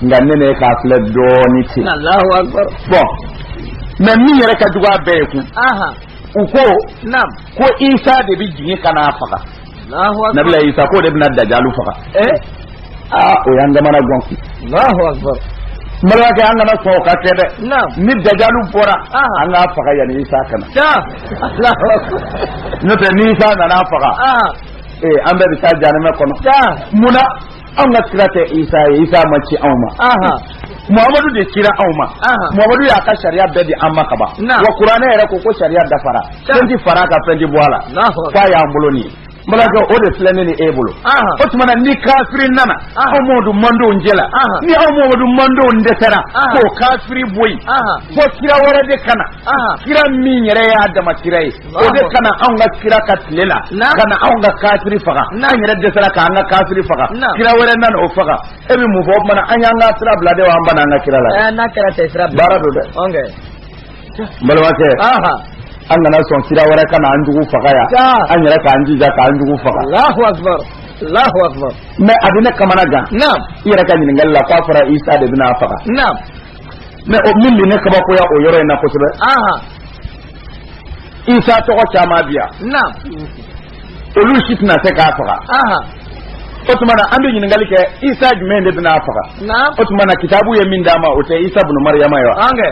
A: nka ne ni e k'a filɛ dɔɔni ten bɔn mɛ min yɛrɛ ka jugu a bɛɛ ye kun u ko ko isa de bɛ jigin ka n'a faga nabila isa k'o de bɛna dajalu faga eh? aa o y'an kamanagan balimakɛ an kana sɔn o ka kɛ dɛ ni dajalu bɔra an k'a faga yanni isa ka na n'o tɛ ni isa nana a faga ee an bɛɛ bɛ taa janɛmɛ kɔnɔ mun na an ka kira tɛ isa ye isa ma ci anw ma muhamadu de kira anw ma muhamadu y'a ka sariya bɛɛ di an ma kaban wa kuranɛ yɛrɛ ko ko sariya dafara fɛn ti fara a kan fɛn ti bɔ a la k'a y'an bolo nin ye balimakɛ o de filɛ ne ni e bolo o tuma na ni kafiri nana anw muhamadu mantɔn cɛla ni anw muhamadu mantɔnw dɛsɛra k'o kafiri bɔ yen fo kira wɛrɛ de ka na kira min yɛrɛ y'a dama kira ye o de ka na anw ka kira ka tile la ka na anw ka kafiri faga an yɛrɛ dɛsɛra k' an ka kafiri faga kira wɛrɛ nana o faga e bɛ mun fɔ o tuma an y'an ka sira bila de an banna an ka kira la baara don dɛ balimakɛ an kana sɔn kira wɛrɛ ka na an jugu faga yan an yɛrɛ k'an jija k'an jugu faga mais a bɛ ne kamana gan i yɛrɛ ka ɲininkali la k'a fɔra isa de bɛna a faga mais o min bɛ ne kabakoya o yɔrɔ in na kosɛbɛ isa tɔgɔ caman bi yan naam olu si tɛna se k'a faga aha o tuma na an bɛ ɲininkali kɛ isa jumɛn de bɛna a faga naam o tuma na kitabu ye min d'a ma o tɛ isa bunu mariyama ye wa angɛ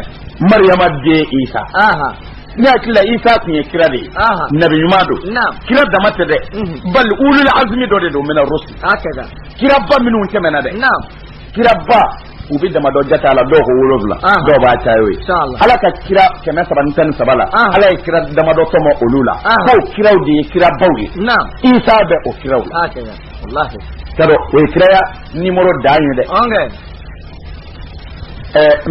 A: mariyama den isa aha ne hakili la isa tun ye kira de ye aha nabi ɲuman don naam kira dama tɛ dɛ Mhm. bali ulul azmi dɔ de don mina rusul ala ka kiraba minnu tɛmɛna dɛ naam kiraba u bɛ damadɔ jate a la dɔw ko wolonwula dɔw b'a caya o ye ala ka kira kɛmɛ saba ni tan ni saba la ala ye kira damadɔ tɔmɔ olu la k'o kiraw de ye kirabaw ye isa bɛ o kiraw la ka dɔn o ye kiraya nimɔrɔ dan ye dɛ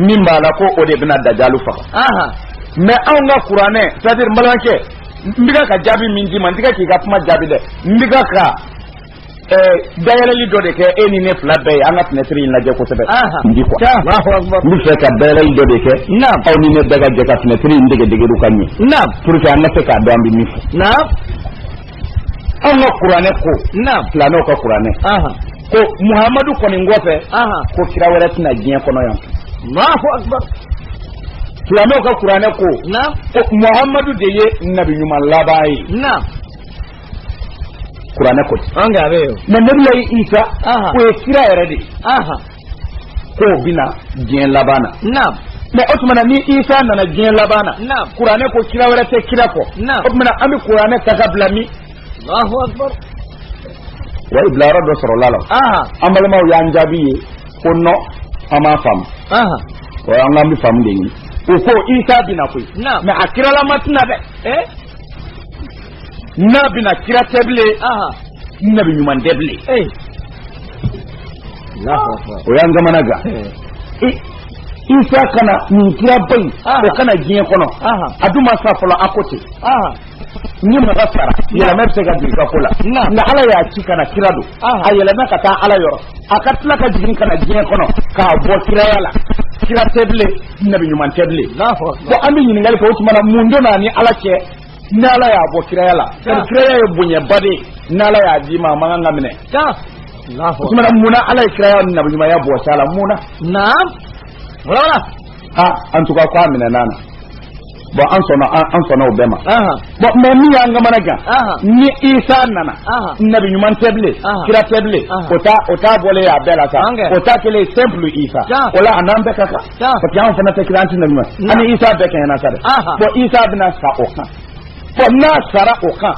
A: min b'a la ko o de bɛna dajalu faga mais anw ka kuranɛ c'est-à-dire n balimakɛ n bɛ ka jaabi min d'i ma n tɛ k'i ka kuma jaabi dɛ n bɛ ka dayɛlɛli dɔ de kɛ e ni ne fila bɛɛ ye an ka fenêtre in lajɛ kosɛbɛ n bi quoi n b'a fɛ ka dayɛlɛli dɔ de kɛ aw ni ne bɛɛ ka jɛ ka fenêtre in dayɛlɛ ka ɲɛ pour que an ka se k'a dɔn an bɛ min fɔ anw ka kuranɛ ko silamɛw ka kuranɛ ko muhamadu kɔni kɔfɛ ko kira wɛrɛ tɛna diɲɛ kɔnɔ yan silamɛw ka kuranɛ ko ko muhamadu de ye nabi ɲuman laban ye kuranɛ ko ten mais nabilayi isa o ye kira yɛrɛ de aha k'o bina diɲɛ laban na na'am mais o tuma na ni isa nana diɲɛ laban na kuranɛ ko kira wɛrɛ tɛ kira kɔ o tuma na an bɛ kuranɛ ta k'a bila min allahu akbar wa i bilayɔrɔ dɔ sɔrɔla a la an balimaw y'an jaabi ye ko non an m'a faamu o nka an bɛ faamu de ɲini u ko isa bina koyi mais a kiralama tɛna dɛ n'a bɛ na kira tɛ bilen nabi ɲuman tɛ bilen o y'an kamana gan isa ka na nin kira ba in o ka na diɲɛ kɔnɔ a dun ma sa fɔlɔ a ko ten ni mɔgɔ sara yɛlɛma bɛ se ka jigin ka ko la nka ala y'a ci ka na kira don a yɛlɛnna ka taa ala yɔrɔ a ka tila ka jigin ka na diɲɛ kɔnɔ k'a bɔ kiraya la kira tɛ bilen nabi ɲuman tɛ bilen bɔn an bɛ ɲininkali kɛ o tuma na mun donn'a ni ala cɛ N'ala y'a bɔ kiraya la kiraya ye bonyaba de n'ala y'a d'i ma a man kan k'a minɛ munna ala ye kiraya nabi ɲumanya bɔ isa la mun na en tout cas ko a minɛn'a la bɔn an sɔnna an sɔnna o bɛɛ ma bɔn mɛ min y'an kamana gan ni isa nana nabi ɲuman tɛ bilen kira tɛ bilen o t'a o t'a bɔlen y'a bɛɛ la sa o t'a kɛlen simple isa o la a n'an bɛɛ ka kan parce que anw fana tɛ kira an tɛ nabi ɲuman an ni isa bɛɛ kɛɲɛna sa dɛ bɔn isa bɛna sa o kan bɔn n'a sara o kan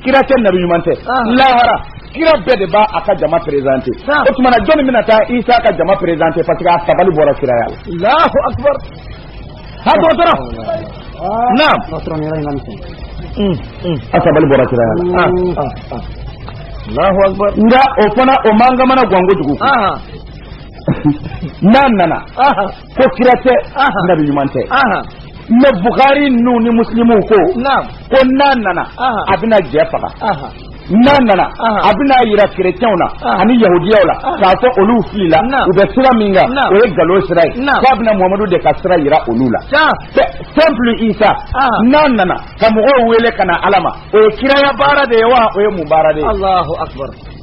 A: kira tɛ nabi ɲuman tɛ lahara kira bɛɛ de b'a ka jama perezante o tuma na jɔnni bɛna taa isa ka jama perezante parce que a sabali bɔra kiraya la alahu akubar ha dɔgɔtɔrɔ naam a sabali bɔra kiraya la alahu akubar nka o fana o m'an kamana gan kojugu n'a nana ko kira tɛ nabi ɲuman tɛ mɛ bukari ninnu ni musilimu ko ko n'a nana a bɛna jɛ faga n'a nana a bɛna yira kerecɛnw na ani yahudiyaw la k'a fɔ olu filila u bɛ sira min kan o ye galon sira ye k'a bɛna muhamadu de ka sira yira olu la simple isa n'a nana ka mɔgɔw wele ka na ala ma o ye kiraya baara de ye wa o ye mun baara de ye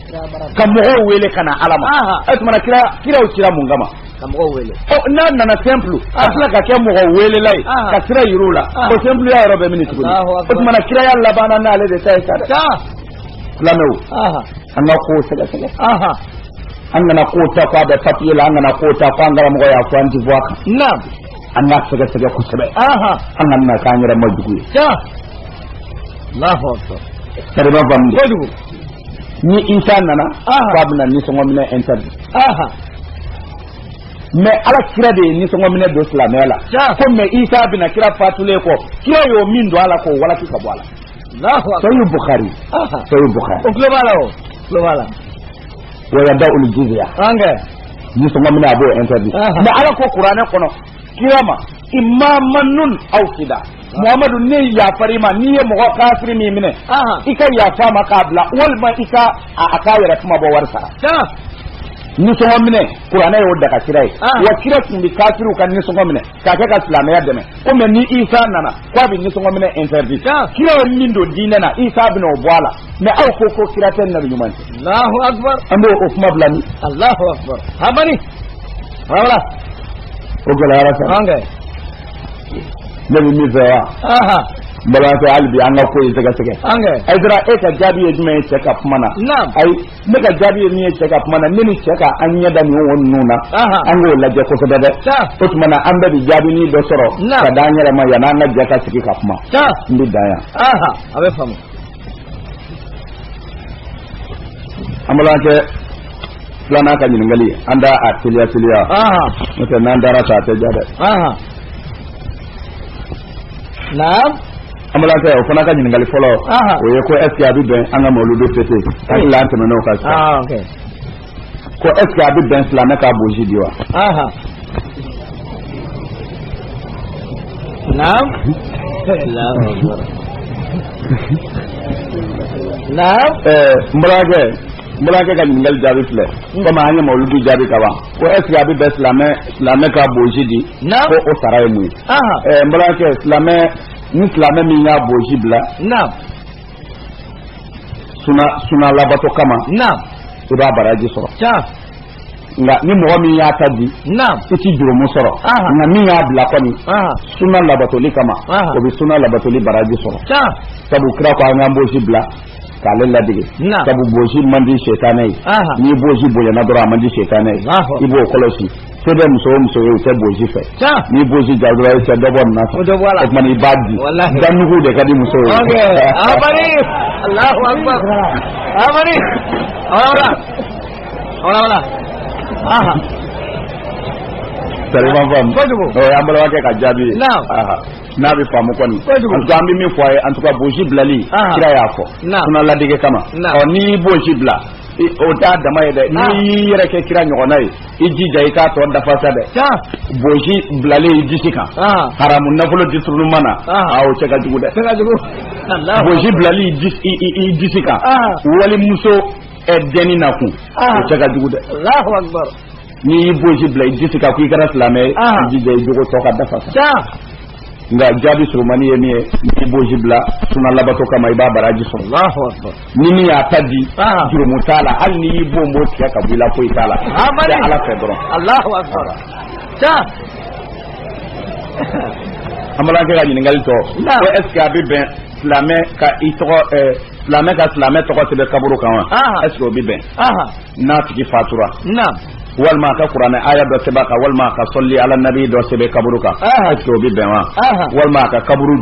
A: ka mɔgɔw wele ka na ala ma o tumana kira kiraw kira mun kama ka mɔgɔw wele n'a nana simple a tila ka kɛ mɔgɔ welela ye ka sira yir'u la o simpleya yɔrɔ bɛ min tuguni o tumana kiraya labanna n'ale de ta ye sa dɛ lamɛnw an ka kow sɛgɛsɛgɛ an kana kow ta fɔ a bɛ papiye la an kana kow ta fɔ an karamɔgɔ y'a fɔ an ti bɔ a kan naamu an k'a sɛgɛsɛgɛ kosɛbɛ an kana na k'an yɛrɛ ma jugu ye Allahu akbar. Kariba Bambi. Kojugu. ni isa nana k'a bɛna nisɔngɔ minɛ interdit mɛ ala kira de ye nisɔngɔ minɛ don silamɛya la comment isa bɛna kira fatulen kɔ kira y'o min don a la k'o walaki k'a bɔ a la sahihu bukari sahihu bukari aw tulo b'a la aw tulo b'a la wa yada'ul jiziya nisɔngɔ minɛ a b'o interdit mɛ ala ko kuranɛ kɔnɔ kira ma imma mannun aw fida Mamadu ne yafara i ma n'i ye mɔgɔ kafiri min minɛ i ka yafa ma k'a bila walima i ka a k'a yɛrɛ kunmabɔ wari sara nisɔngɔ minɛ kuranɛ y'o daga kira ye ah. wa kira tun bɛ kafiriw ka nisɔngɔ minɛ k'a kɛ ka silamɛya dɛmɛ komi ni isa nana ko a bɛ nisɔngɔ minɛ interdit ah. kira ye min don diinɛ na isa bɛna o bɔ a la mɛ aw ko ko kira tɛ nabi ɲuman tɛ alahu akubar an b'o o kuma bila ni alahu akubar a bani voilà o gɛlɛyara sa ne bɛ min fɛ wa n balimakɛ hali bi an ka ko ye sɛgɛsɛgɛ Hayidara e ka jaabi ye jumɛn ye cɛ ka kuma na ayi ne ka jaabi ye min ye cɛ ka kuma na ne ni cɛ ka an ɲɛ da nin wo ninnu na an k'o lajɛ kosɛbɛ dɛ o tuma na an bɛɛ bi jaabinin dɔ sɔrɔ ka d'an yɛrɛ ma yanni an ka jɛ ka sigi ka kuma n bɛ dan yan a bɛ faamu an balimakɛ filanan ka ɲininkali an da a teliya teliya n'o tɛ n'an dara ta a tɛ ja dɛ naam an balimakɛ o fana ka ɲininkali fɔlɔ o ye ko est ce que a bɛ bɛn an ka mawuludu fêter hakili la an tɛmɛn'o kan sisan ko est ce que a bɛ bɛn silamɛ k'a boji di wa. naam naam. ɛɛ n balimakɛ n balimakɛ ka ɲininkali jaabi filɛ. komi an ye mawuludu jaabi ka ban ko est ce que a bɛ bɛn silamɛ silamɛ k'a boji di. naam ko o sara ye mun ye. ɛɛ n balimakɛ silamɛ ni silamɛ min y'a boji bila. naam. suna suna labato kama naam i b'a baraji sɔrɔ tiɲɛ nka ni mɔgɔ min y'a ta di naam i ti jurumu sɔrɔ Aha. nka min y'a bila kɔni aha suna labatoli kama Aha. o bɛ suna labatoli baraji sɔrɔ tiɲɛ sabu kira ko an k'an bosi bila k'ale ladege Naam. sabu bosi man di setanɛ ye Aha. n'i bosi bonyana dɔrɔn a man di setanɛ ye Alahu. i b'o kɔlɔsi se bɛ muso o muso ye u tɛ bosi fɛ n'i bosi ja dɔrɔn i tɛ dɔ bɔ nin na o tuma i b'a di danugu de ka di muso ye. amani alahu akbar amani awara awara aha. sariya ma faamu kojugu ɔ an balimakɛ ka jaabi ye n'a bɛ faamu kɔni en tout cas an bɛ min fɔ a ye en tout cas bosi bilali kira y'a fɔ suna ladege kama ɔ n'i y'i bosi bila o t'a dama ye dɛ n'i y'i yɛrɛ kɛ kira ɲɔgɔnna ye. i jija i k'a tɔ dafa sa dɛ bosi bilalen i disi kan haramu nafolo diturunu ma na o cɛ ka jugu dɛ bosi bilalen i disi kan walimuso dɛnni na kun o cɛ ka jugu dɛ n'i y'i bosi bila i disi kan ko i kɛra silamɛ ye i jija i jogo tɔ ka dafa sa nka jaabi surumani ye min ye n'i y'i bosi bila suna labato kama i b'a baraji sɔrɔ ni min y'a ta di jurumu t'a la hali n'i y'i bonbon tigɛ ka bɔ i la foyi t'a la tɛ ala fɛ dɔrɔn alahu akbar ta an balimakɛ ka ɲininkali tɔ ko est ce que a bɛ bɛn silamɛ ka i tɔgɔ silamɛ ka silamɛ tɔgɔ sɛbɛn kaburu kan wa est ce que o bɛ bɛn n'a tigi fatura walima a ka kuranɛ aya dɔ sɛbɛn a kan walima a ka sɔli ala nabi dɔ sɛbɛn kaburu kan est ce que o bɛ bɛn wa walima a ka kaburu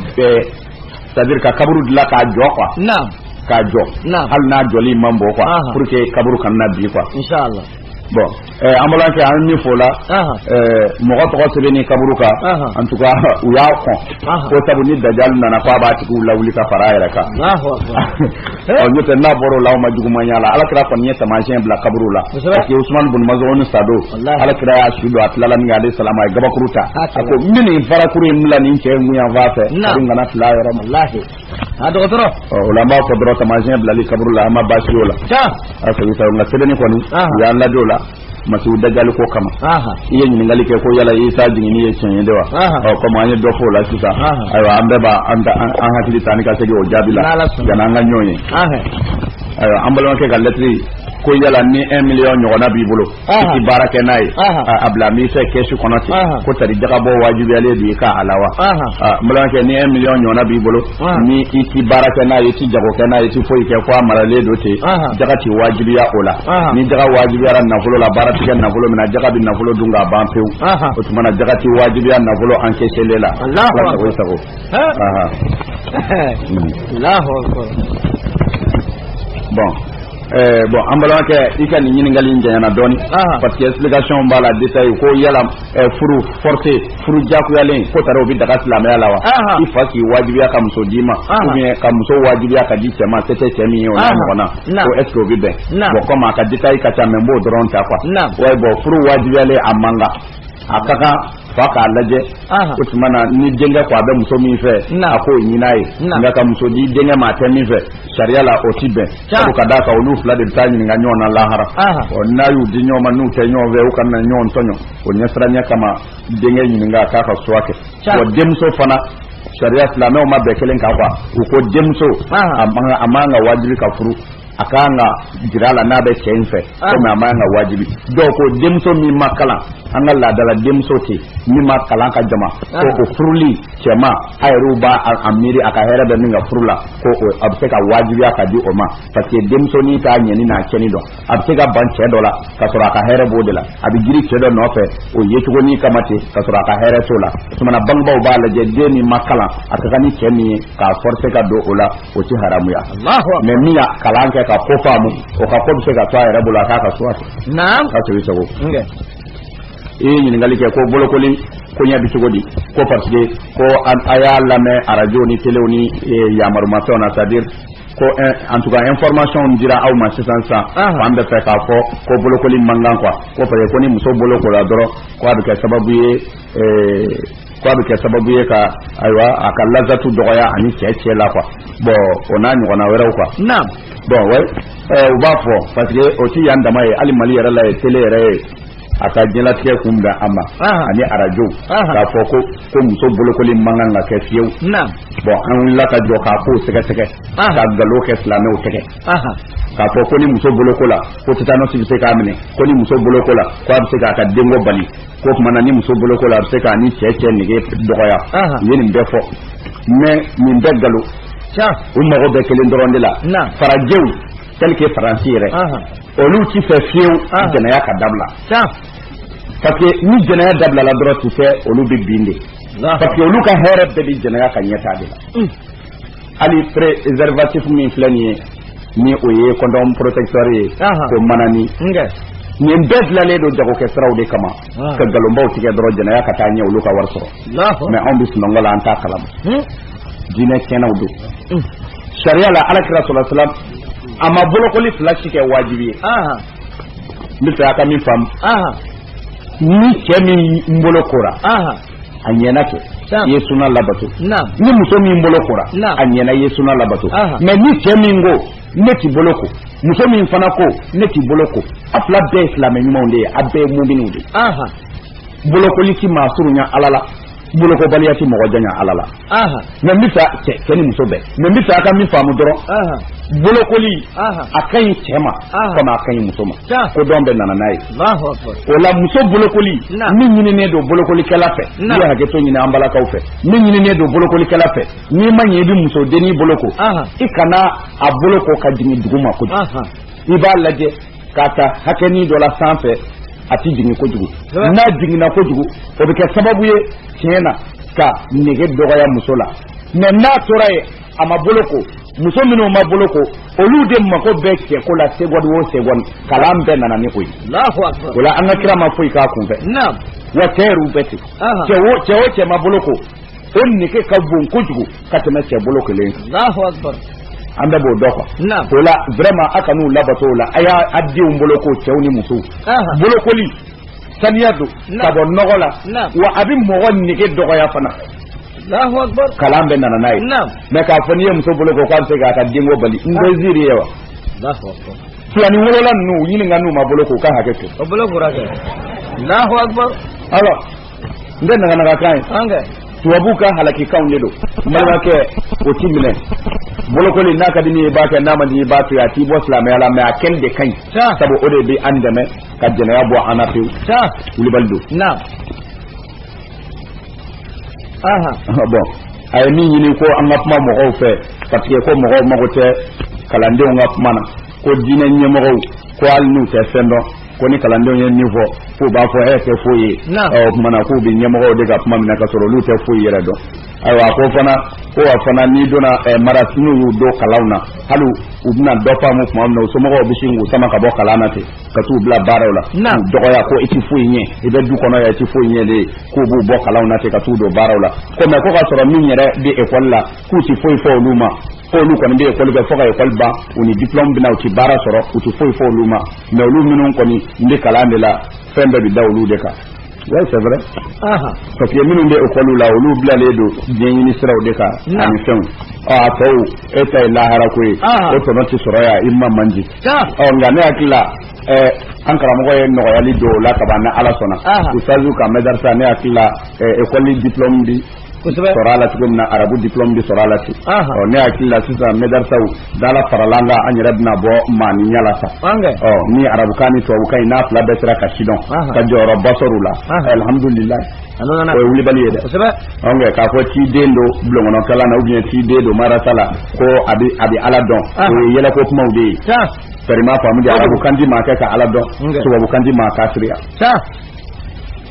A: c'est à dire ka kaburu dilan k'a jɔ quoi k'a jɔ hali n'a jɔli man bon quoi pour que kaburu kana na bin quoi bon eh, an balimakɛ an min fɔ la eh, mɔgɔ tɔgɔ sɛbɛnni kaburu kan en tout cas u y'a kɔn ko sabu ni dajali nana ko a b'a tigiw lawuli ka fara a yɛrɛ kan n'o tɛ n'a bɔra o la u ma juguman y'a la alakira kɔni ye taamasiyɛn bila kaburu la parce que Usumani bun Mazɔn sa don alakira y'a su don a tilala minkɛ alayhi salam a ye gabakuru ta a ko n bɛ nin farakuru in bila nin cɛ in kun yanfan fɛ a dun kana fili a yɔrɔ ma a dɔgɔtɔrɔ o la an b'a fɔ dɔrɔn taamasiyɛn bilali kaburu la an ma baasi y'o la nka sɛbɛnni kɔni u y'an lajɔ o la masihu dajali ko kama i ye ɲininkali kɛ ko yala isa jiginni ye tiɲɛ ye de wa ɔ komi an ye dɔ fɔ o la sisan ayiwa an bɛɛ b'a an hakili ta ni ka segin o jaabi la yanni an ka ɲɔgɔn ye ayiwa an balimakɛ ka lɛtiri ko yala ni un million ɲɔgɔnna b'i bolo i ti baara kɛ n'a ye a bilalen b'i fɛ kɛsu kɔnɔ ten ko tari jagabɔ wajibiyalen de y'i kan a la wa n balimakɛ ni un million ɲɔgɔnna b'i bolo ni i tɛ baara kɛ n'a ye i tɛ jago kɛ n'a ye i tɛ foyi kɛ fo a maralen don ten jaga tɛ wajibiya o la ni jaga wajibiyara nafolo la baara tɛ kɛ nafolo min na jaga bɛ nafolo dun k'a ban pewu o tuma na jaga tɛ wajibiya nafolo encaissélen la ala sago i sago. bon eh, bon an balimakɛ i ka nin ɲininkali in janyana dɔɔni parce que explication b'a la détail ko yala eh, furu forcé furu jagoyalen ko tari o bɛ daga silamɛya la wa i fa k'i wajibiya ka muso d'i ma ou bien ka muso wajibiya ka di cɛ ma se tɛ cɛ min ye o n'a ɲɔgɔnna ko est ce que o bɛ bɛn bon komi a ka détail ka ca mais n b'o dɔrɔn ta quoi wa bon furu wajibiyalen a man kan a ka kan fa k'a lajɛ o tuma na ni denkɛ ko a bɛ muso min fɛ a k'o ɲinin a ye nka ka muso di denkɛ ma a tɛ min fɛ sariya la o tɛ bɛn sabu ka d'a kan olu fila de bɛ taa ɲininka ɲɔgɔn na lahara ɔ n'a y'u di ɲɔgɔn ma n'u tɛ ɲɔgɔn fɛ u kana na ɲɔgɔn tɔɲɔ o ɲɛsiranya kama denkɛ ɲininka k'a ka choix kɛ wa denmuso fana sariya silamɛw ma bɛn kelen kan quoi u ko denmuso a man ka wajibi ka furu a ka kan ka jira a la n'a bɛ cɛ in fɛ ah. komi a man ka wajibi dɔw ko denmuso min ma kalan an ka laada la denmuso tɛ min ma kalan ka jama ah. ko o furuli cɛ ma a yɛrɛw b'a a miiri a ka hɛrɛ bɛ min ka furu la ko a bɛ se ka wajibiya ka di o ma parce que denmuso n'i k'a ɲɛni n'a cɛni dɔn a bɛ se ka ban cɛ dɔ la ka sɔrɔ a ka hɛrɛ b'o de la a bɛ girin cɛ dɔ nɔfɛ o ye cogo ni kama ten ka sɔrɔ a ka hɛrɛ t'o la o tumana bangebaaw b'a lajɛ den min ma kalan a ka kan ni cɛ min ye k'a forcer ka don o la o tɛ haramuya mais min y'a kalan kɛ ka ko faamu o ka ko bɛ se ka to a yɛrɛ bolo a k'a ka so a fɛ ka to i sago i ye ɲininkali kɛ ko bolokoli koɲɛ bɛ cogo di ko parce que ko a y'a lamɛn arajo ni telew ni yamarumafɛnw na c'est à dire ko en tout cas information dira aw ma sisan sisan an bɛ fɛ k'a fɔ ko bolokoli man kan quoi k'a fɔ ko ni muso bolokola dɔrɔn k' a bɛ kɛ sababu ye k' a bɛ kɛ sababu ye ka ayiwa a ka lazatu dɔgɔya ani cɛ cɛ la quoi bon o n'a ɲɔgɔnna wɛrɛw quoi bon u b'a fɔ parce que o tɛ yan dama ye hali mali yɛrɛ la yan tele yɛrɛ ye a ka jɛnatigɛ kun bɛn a ma ani arajow k'a fɔ ko ko muso bolokoli man kan ka kɛ fiyewu bon an wulila ka jɔ k'a k'o sɛgɛsɛgɛ ka nkalon kɛ silamɛw tɛgɛ k'a fɔ ko ni muso bolokola ko tetanɔsi bɛ se k'a minɛ ko ni muso bolokola ko a bɛ se k'a ka denko bali ko tuma na ni muso bolokola a bɛ se k'a ni cɛ cɛ nege dɔgɔya u ye nin bɛɛ fɔ mais nin bɛɛ nkalon u mago bɛ kelen dɔrɔn de la farajɛw tel que faransi yɛrɛ olu tɛ fɛ fiyewu jɛnɛya ka dabila parce que ni jɛnɛya dabilala dɔrɔn tu sais olu bɛ bin de parce que olu ka hɛrɛ bɛɛ bɛ jɛnɛya ka ɲɛtaa de la hali préservatif min filɛ nin ye ni o ye condom protecteur ye ko manani nin bɛɛ dilannen don jagokɛ siraw de kama ka nkalonbaw tigɛ dɔrɔn jɛnɛya ka taa ɲɛ olu ka wari sɔrɔ mais anw bɛ sunɔgɔ la an t'a kalama diinɛ tiɲɛnaw don sariya la ala kira salala salam a ma bolokoli fila si kɛ wajibi ye n bɛ fɛ a ka min faamu ni cɛ min bolokora a ɲɛna kɛ i ye suna labato ni muso min bolokora a ɲɛna i ye suna labato mais ni cɛ min ko ne ti boloko muso min fana ko ne ti boloko a fila bɛɛ ye silamɛ ɲumanw de ye a bɛɛ ye muminw de ye bolokoli ti maa surunya ala la bolokobaliya tɛ mɔgɔ janya ala la mais n bɛ fɛ cɛ ni muso bɛɛ mais n bɛ fɛ a ka min faamu dɔrɔn bolokoli a ka ɲi cɛ ma komi a ka ɲi muso ma kodɔn bɛɛ nana n'a ye o la muso bolokoli min ɲininen don bolokolikɛla fɛ ne ye hakɛto ɲini an balakaw fɛ min ɲininen don bolokolikɛla fɛ n'i ma ɲɛ i bɛ muso dennin boloko i kana a boloko ka jigin dugu ma kojugu i b'a lajɛ k'a ta hakɛnin dɔ la sanfɛ a tɛ jigin kojugu n'a jiginna kojugu o bɛ kɛ sababu ye tiɲɛ na ka nege dɔgɔya muso la mais n'a tora yen a ma boloko muso minnu ma boloko olu de mago bɛ cɛko la segɔni o segɔni kalan bɛɛ nana ni o ye o la an ka kira ma foyi kɛ kunfɛ wa cɛ yɛrɛw bɛ ten cɛ o cɛ ma boloko o nege ka bon kojugu ka tɛmɛ cɛ bolokolen kan an bɛɛ b'o dɔn quoi o la vraiment a kan'u labato o la a y'a a denw boloko cɛw ni musow bolokoli saniya don ka bɔ nɔgɔ la wa a bɛ mɔgɔ nege dɔgɔya fana kalan bɛna na n'a ye mɛ k'a fɔ n'i ye muso boloko k'a bɛ se k'a ka denko bali n bɛ ziiri ye wa filani wolola ninnu ɲininka n'u ma boloko u ka hakɛ to o bolo kura kɛ Allahu akbar alors n tɛ naganagakan ye an kɛ tubabuw ka halakikanw de don balimakɛ o ti minɛ bolokoli n'a ka di i ye i b'a kɛ n'a man di i b'a to yen a t'i bɔ silamɛya la mɛ a kɛli de ka ɲi Tiɲɛ. sabu o de bɛ an dɛmɛ ka jɛnɛya bɔ an na pewu Tiɲɛ. wulibali don Naam. Aha. bɔn a ye min ɲini ko an ka kuma mɔgɔw fɛ parce que ko mɔgɔw mago tɛ kalandenw ka kuma na ko diinɛ ɲɛmɔgɔw ko hali n'u tɛ fɛn dɔn ko ni kalandenw ye min fɔ k'u b'a fɔ e tɛ foyi ye o tuma na k'u bɛ ɲɛmɔgɔw de ka kuma minɛ ka sɔrɔ olu tɛ foyi yɛrɛ dɔn ayiwa ko fana ko wa fana n'i donna marasa n'u y'u don kalanw na hali u bɛna dɔ faamu tuma min na u somɔgɔw bɛ sin k'u sama ka bɔ kalan na ten ka t'u bila baaraw la k'u dɔgɔya ko i tɛ foyi ɲɛ i bɛ du kɔnɔ yan i tɛ foyi ɲɛ de k'u b'u bɔ kalanw na ten ka t'u don baaraw la ko mɛ ko ka sɔrɔ min yɛrɛ bɛ ekɔli la k'u tɛ foyi fɔ olu ma ko olu kɔni bɛ ekɔli kɛ fo ka ekɔli ban u ni diplɔmu bɛ na u ti baara sɔrɔ u ti foyi fɔ olu ma mɛ olu minnu kɔni n bɛ kalan de la fɛn bɛɛ bɛ da olu de kan oui c'est vrai parce que minnu bɛ ekɔliw la olu bilalen don diɲɛɲini siraw de kan ani fɛnw ɔ a tɔw e ta ye lahara ko ye o tɔnɔ tɛ sɔrɔ yan i ma man di ɔ nka ne hakili la an karamɔgɔ ye nɔgɔyali don o la kaban ni ala sɔnna usitazu ka mɛdarisa ne hakili la ekɔli diplɔmu di sɔrɔ la cogo min na arabu diplôme bɛ sɔrɔ la ten ɔ ne hakili la sisan mɛdarisaw dala farala an kan an yɛrɛ bɛna bɔ maaninya la sa ɔ ni arabukan ni tubabukan in n'a fila bɛɛ sera ka sidɔn ka jɔyɔrɔba sɔrɔ u la alihamudulilayi o ye wulibali ye dɛ ɔ nka k'a fɔ k'i den don bulonkɔnɔkalan na ou bien k'i den don marasa la ko a bɛ a bɛ ala dɔn o ye yɛlɛko kumaw de ye kari i m'a faamu dɛ arabukan ti maa kɛ ka ala dɔn tubabukan ti maa kafiriya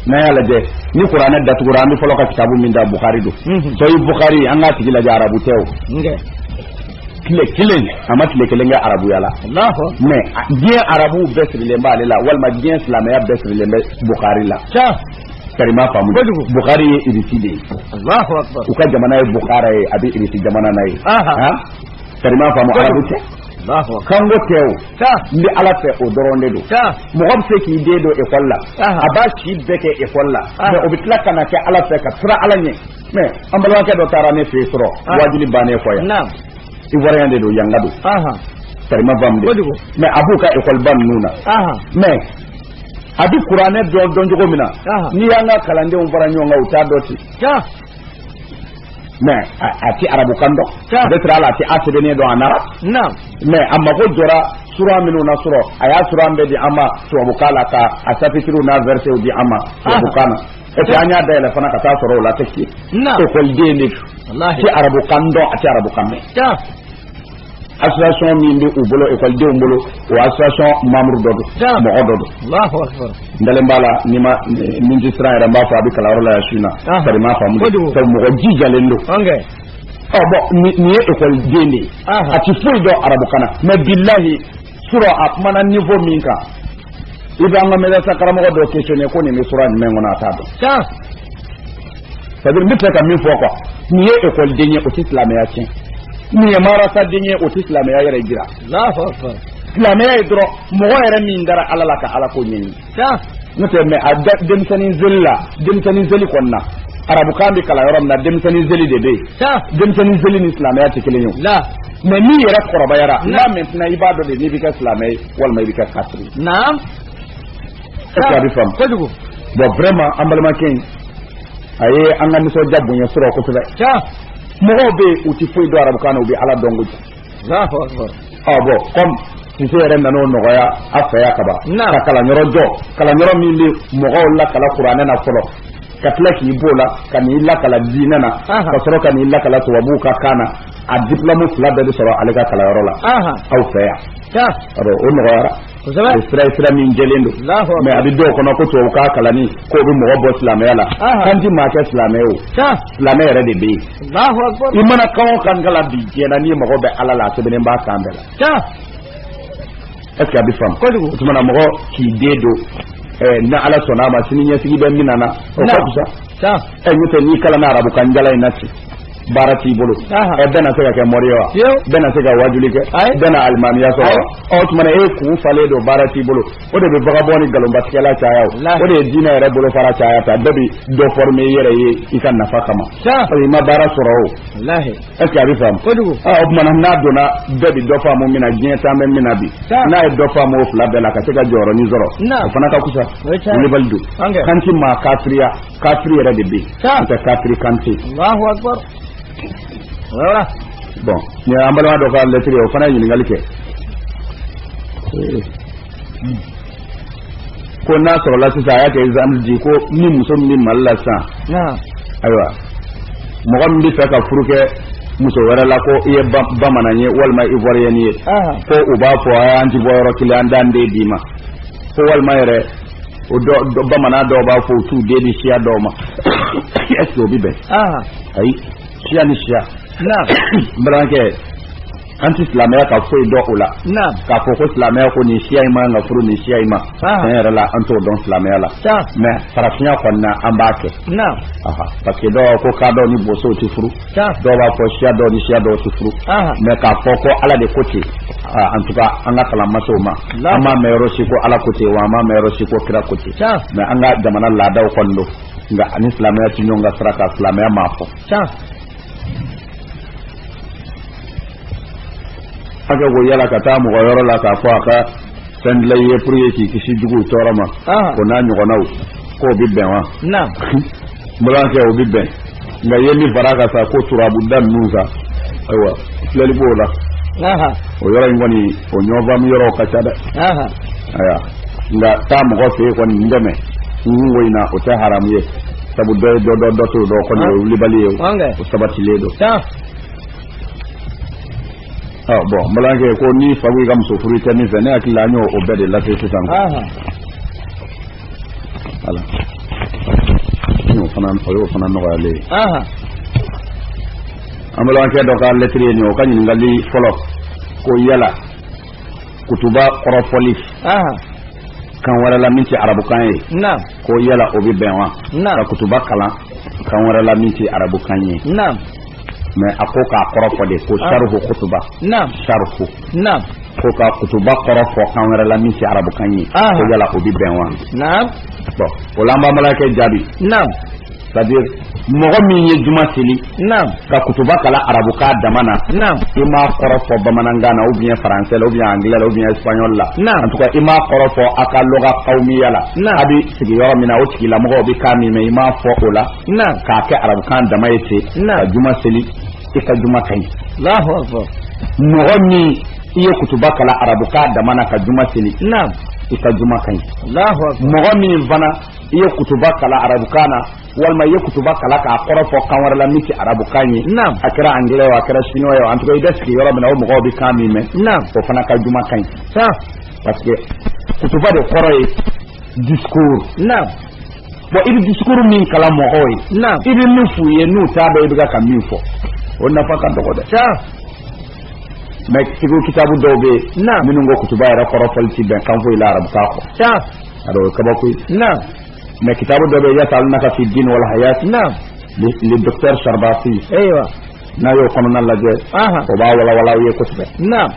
A: n'a y'a lajɛ ni kuranɛ datugura an bɛ fɔlɔ ka kitabu min ta bukari don sahih bukari an k'a tigi lajɛ arabu tɛ o tile kelen a ma tile kelen kɛ arabuya la mɛ diɲɛ arabuw bɛɛ sirilen b'ale la walima diɲɛ silamɛya bɛɛ sirilen bɛ bukari la kari i m'a faamu bukari ye irisi de ye u ka jamana ye bukara ye a bɛ irisi jamana na yen kari i m'a faamu arabu tɛ kanko tɛ o n bɛ ala fɛ o dɔrɔn de don mɔgɔ bɛ se k'i den don ekɔli la a b'a si bɛɛ kɛ ekɔli la mɛ o bɛ tila ka na kɛ ala fɛ ka sira ala ɲɛ mɛ an balimakɛ dɔ taara ne fɛ yen surɔ waajuli bannen kɔ yan ivoirien de don yanka don kari i m'a faamu dɛ mɛ a b'u ka ekɔliba ninnu na mɛ a bɛ kuranɛ dɔn dɔn cogo min na n'i y'an ka kalandenw fara ɲɔgɔn kan u t'a dɔn ten mɛ a tɛ arabukan dɔn peut-être ale tɛ a sɛbɛnni dɔn a ɲa ra mɛ a mago jɔra sura minnu na su rɔ a y'a sura in bɛɛ di an ma tubabukan la ka a sapitiriw n'a vɛrisew di an ma tubabukan na epi an y'a dayɛlɛ fana ka taa sɔrɔ o la tɛ si ekɔliden de don a tɛ arabukan dɔn a tɛ arabukan mɛn association min bɛ u bolo ekɔlidenw bolo o association membre dɔ don mɔgɔ dɔ don n dalen b'a la n'i ma min tɛ siran yɛrɛ n b'a fɔ a bɛ kalanyɔrɔ la yan su in na sa i m'a faamu sabu mɔgɔ jijalen don ɔ bɔn nin ye ekɔliden de ye a tɛ foyi dɔn arabukan na mɛ bilahi Su rɔ a kumana niveau min kan i bɛ an ka madarasa karamɔgɔ dɔ questionner ko nin bɛ sura jumɛn kɔnɔ a t'a dɔn ça veut dire n bɛ fɛ ka min fɔ ko nin ye ekɔliden ye o tɛ silamɛya tiɲɛ nin ye madarasaden ye o tɛ silamɛya yɛrɛ jira silamɛya ye dɔrɔn mɔgɔ yɛrɛ min dara ala la ka ala ko ɲini n'o tɛ mɛ a denmisɛnnin seli la denmisɛnnin seli kɔni na arabukan bɛ kalan yɔrɔ min na denmisɛnnin seli de bɛ yen denmisɛnnin seli ni silamɛya tɛ kelen ye mɛ n'i yɛrɛ kɔrɔbayara la maintenant i b'a dɔn de n'i bɛ kɛ silamɛ ye walima i bɛ kɛ kafiri ye est-ce que a bɛ faamu kojugu bon vraiment an balimakɛ in a ye an ka nisɔndiya bonya su rɔ kosɛbɛ mɔgɔw bɛ yen u tɛ foyi dɔn arabukan na u bɛ ala dɔn kojugu ɔ bɔn kɔmi sise yɛrɛ nana o nɔgɔya a fɛ yan kaban ka kalanyɔrɔ jɔ kalanyɔrɔ min bɛ mɔgɔw lakalan kuranɛ na fɔlɔ ka tila k'i b'o la ka n'i lakalan diinɛ na ka sɔrɔ ka n'i lakalan tubabuw ka kan na a diplɔmu fila bɛɛ bɛ sɔrɔ ale ka kalanyɔrɔ la aw fɛ yan o nɔgɔyara kosɛbɛ o sira ye sira min jɛlen don Alahu akbar. mais a bɛ dɔw kɔnɔ ko tubabukan kalanni k'o bɛ mɔgɔ bɔ silamɛya la Aha. kan ti maa kɛ silamɛ ye o sa silamɛ yɛrɛ de bɛ yen Allahu akbar i mana kan o kan kalan bi diɲɛ na n'i mago bɛ ala la a sɛbɛnnen b'a kan bɛɛ la sa est ce que a bɛ faamu kojugu o tuma na mɔgɔ k'i den don ɛɛ ni ala sɔnna a ma sini ɲɛsigi bɛ min na na o ka Na. fisa sa ɛ n'o tɛ n'i kalanna arabukan jalan in na ten baara t'i bolo ɛ bɛɛ na se ka kɛ mori wa bɛɛ na se ka wajuli kɛ bɛɛ na alimamiya sɔrɔ ɔ tuma e kun falen don baara t'i bolo o de bɛ vagabond ni nkalonbatigɛla caya o de ye diinɛ yɛrɛ bolofara caya tan bɛɛ bi dɔ former i yɛrɛ ye i ka nafa kama parce que i ma baara sɔrɔ o est ce que a bɛ faamu o tuma na n'a donna bɛɛ bi dɔ faamu min na diɲɛ taa bɛ min na bi n'a ye dɔ faamu o fila bɛɛ la ka se ka jɔyɔrɔnin sɔrɔ o fana ka fusa Kulibali don kan ti maa kafiriya kafiri yɛrɛ de bɛ yen n'o tɛ kafiri kan tɛ yen. alahu akibaru. o yɔrɔ la. bɔn nin an balima dɔ ka lɛtiri ye o fana ye ɲininkali kɛ. ko n'a sɔrɔla sisan a y'a kɛ exemple di ko ni muso min bɛ mali la sisan. ayiwa mɔgɔ min bɛ fɛ ka furu kɛ muso wɛrɛ la ko i ye bamanan ye walima ivoiriyɛni ye ko u b'a fɔ an ti bɔ yɔrɔ kelen an t'an den d'i ma ko walima yɛrɛ o dɔ dɔ bamanan dɔw b'a fɔ u t'u den di siya dɔw ma est ce que o bɛ bɛn aha ayi siya ni siya na n balimakɛ an tɛ silamɛya ka foyi dɔn o la naam k'a fɔ ko silamɛya ko nin siya in man kan ka furu nin siya in ma Ah. tiɲɛ yɛrɛ la an t'o dɔn silamɛya la sa mais farafinya kɔni na an b'a kɛ naam aha parce que dɔw ko kadɔ ni bosow tɛ furu dɔw b'a fɔ siya dɔw ni siya dɔw tɛ furu mais k'a fɔ ko ala de ko ten en tout cas an ka kalan ma se o ma an m'a mɛn yɔrɔ si ko ala ko ten wa an m'a mɛn yɔrɔ si ko kira ko ten mais an ka jamana laadaw kɔni don nka a ni silamɛya ti ɲɔgɔn ka sira kan silamɛya m'a fɔ hakɛ ko yala ka taa mɔgɔ yɔrɔ la k'a fɔ a ka fɛn dila i ye pour que k'i kisi juguw tɔɔrɔ ma o n'a ɲɔgɔnnaw k'o bɛ bɛn wa balimakɛ o bɛ bɛn nka i ye min fara a kan sa ko turabuda ninnu sa ayiwa filɛli b'o la o yɔrɔ in kɔni o ɲɔgɔnfaamu yɔrɔw ka ca dɛ ayiwa nka taa mɔgɔ fɛ yen kɔni n dɛmɛ n kunko in na o tɛ haramu ye sabu dɔ ye dɔ dɔn dɔ t'o dɔn kɔni o ye wulibali ye o sabatilen don ɔ bon an balimakɛ ko n'i fa ko i ka muso furu i tɛ min fɛ ne hakili la an y'o o bɛɛ de lase sisan. ala n'o fana o y'o fana nɔgɔyalen ye. an balimakɛ dɔ ka lɛtiri ye nin ye o ka ɲininkali fɔlɔ ko yala kutuba kɔrɔfɔli kan wɛrɛ la min tɛ arabukan ye. ko yala o bɛ bɛn wa ka kutuba kalan kan wɛrɛ la min tɛ arabukan ye mais a ko k'a kɔrɔ fɔ de ko ah. saruhu kutuba saruhu ko ka kutuba kɔrɔ fɔ kan wɛrɛ la min tɛ arabukan ye ah. ko yala o bɛ bɛn wa bon o la an b'an balimakɛ jaabi c'est à dire mɔgɔ min ye juma seli ka kutuba kalan arabukan dama na i m'a kɔrɔ fɔ bamanankan na ou bien français ou bien anglais ou bien espagnol la en tout cas i m'a kɔrɔ fɔ a ka luga amiya la a bɛ sigi yɔrɔ min na o tigilamɔgɔw bɛ kan min mɛn i m'a fɔ o la k'a kɛ arabukan dama ye ten ka juma seli i ka juma ka ɲi mɔgɔ min i ye kutuba kalan arabukan dama na ka juma seli i ka juma ka ɲi mɔgɔ min fana i ye kutuba kalan arabukan na walima i ye kutuba kalan k'a kɔrɔ fɔ kan wɛrɛ la min tɛ arabukan ye naam a kɛra angilɛ ye a kɛra siniwa ye en tout cas i bɛ sigi yɔrɔ min na o mɔgɔw bɛ kan min mɛn naam o fana ka juma ka ɲi sa parce que kutuba de kɔrɔ ye discours naam bon i bɛ discours min kalan mɔgɔw ye naam i bɛ min f'u ye n'u t'a dɔn i bɛ ka min fɔ o nafa ka dɔgɔ dɛ sa mais fikihu kitabu dɔw bɛ yen naam minnu ko kutuba yɛrɛ kɔrɔ fɔli tɛ bɛn kan foyi la arabukan kɔ sa a dɔw kabakoya naam mais kitabu dɔ bɛ yas'alunaka fi din wal hayat na le docteur sarbasi ayiwa n'a y'o kɔnɔna lajɛ o b'a walawala aw ye kosɛbɛ naam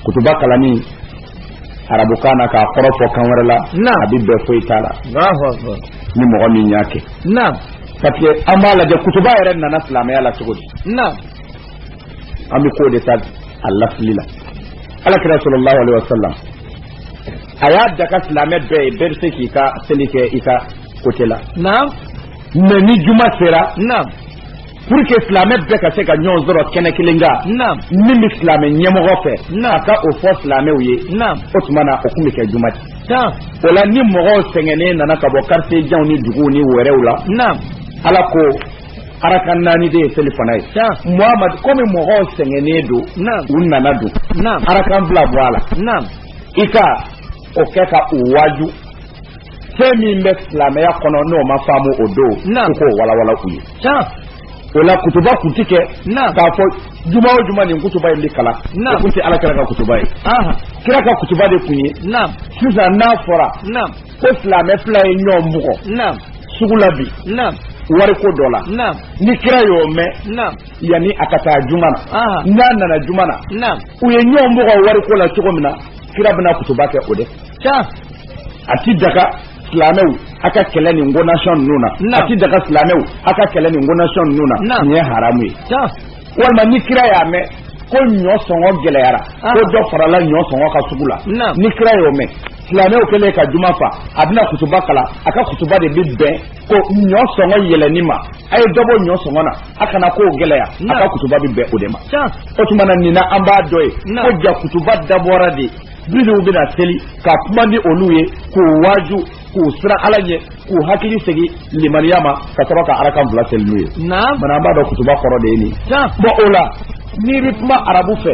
A: kutuba kalanni arabukan na k'a kɔrɔ fɔ kan wɛrɛ la a bɛ bɛn foyi t'a la ni mɔgɔ min y'a kɛ parce que an b'a lajɛ kutuba yɛrɛ nana silamɛya la cogo di an bɛ k'o de ta a lasili la alakira sallallahu alaihi wasallam a y'a daga silamɛ bɛɛ ye bɛɛ bɛ se k'i ka seli kɛ i ka côté la naam mais ni juma sera naam pour que silamɛ bɛɛ ka se ka ɲɔgɔn sɔrɔ kɛnɛ kelen kan naam min bɛ silamɛ ɲɛmɔgɔ fɛ naam a ka o fɔ silamɛw ye naam o tuma na o tun bɛ kɛ juma de tan o la ni mɔgɔw sɛgɛnnen nana ka bɔ quartier janw ni duguw ni wɛrɛw la naam ala ko arakan naani de ye selifana ye tan muhamadu komi mɔgɔw sɛgɛnnen don naam u nana don naam arakan fila bɔ a la naam i ka o kɛ ka u waaju fɛn min bɛ silamɛya kɔnɔ n'o ma faamu o don u k'o walawala u ye o la kutuba kun ti kɛ k'a fɔ juma o juma nin kutuba in bɛ kalan o kun tɛ ala kira ka kutuba ye kira ka kutuba de kun ye sisan n'a fɔra ko silamɛ fila ye ɲɔgɔn bugɔ sugu la bi wariko dɔ la ni kira y'o mɛn yanni a ka taa juma na n'a nana juma na u ye ɲɔgɔn bugɔ wariko la cogo min na kira bɛna kutuba kɛ o de a ti daga silamɛw a ka kɛlɛ nin ko nasɔn ninnu na a ti daga silamɛw a ka kɛlɛ nin ko nasɔn ninnu na nin ye haramu ye walima ni kira y'a mɛn ko ɲɔ sɔngɔ gɛlɛyara ko dɔ farala ɲɔ sɔngɔ kan sugu la ni kira y'o mɛn silamɛw kɛlen ka juma fa a bɛna kutuba kalan a ka kutuba de bɛ bɛn ko ɲɔ sɔngɔ yɛlɛni ma a ye dɔ bɔ ɲɔ sɔngɔ na a kana ko gɛlɛya a ka kutuba bɛ bɛn o de ma o tuma na nin na an b'a dɔn yen ko jaa kutuba dabɔra de minnu bɛna seli ka kuma ni olu ye k'u waaju k'u siran ala ɲɛ k'u hakili segin limaniya ma ka sɔrɔ ka arakan fila seli n'u ye bana an b'a dɔn kutuba kɔrɔ de ye nin bon o la n'i bɛ kuma arabu fɛ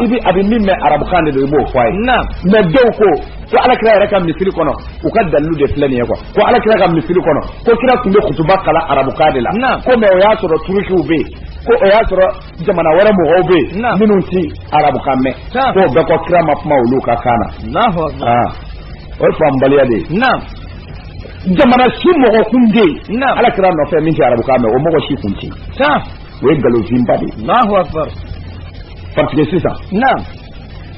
A: i bɛ a bɛ min mɛn arabukan de don i b'o fɔ a ye mais dɔw ko ko alakira yɛrɛ ka misiri kɔnɔ u ka dalilu de filɛ nin ye quoi ko ala kira ka misiri kɔnɔ ko kira tun bɛ kutuba kalan arabukan de la ko mais o y'a sɔrɔ turukiw bɛ yen ko o y'a sɔrɔ jamana wɛrɛ mɔgɔw bɛ yen minnu ti arabukan mɛn ko o bɛɛ kɔ kira ma kuma olu ka kan na ah. o ye faamubaliya de ye jamana si mɔgɔ kun tɛ yen ala kira nɔfɛ min tɛ arabukan mɛn o mɔgɔ si kun tɛ yen o ye nkalon finba de ye parce que sisan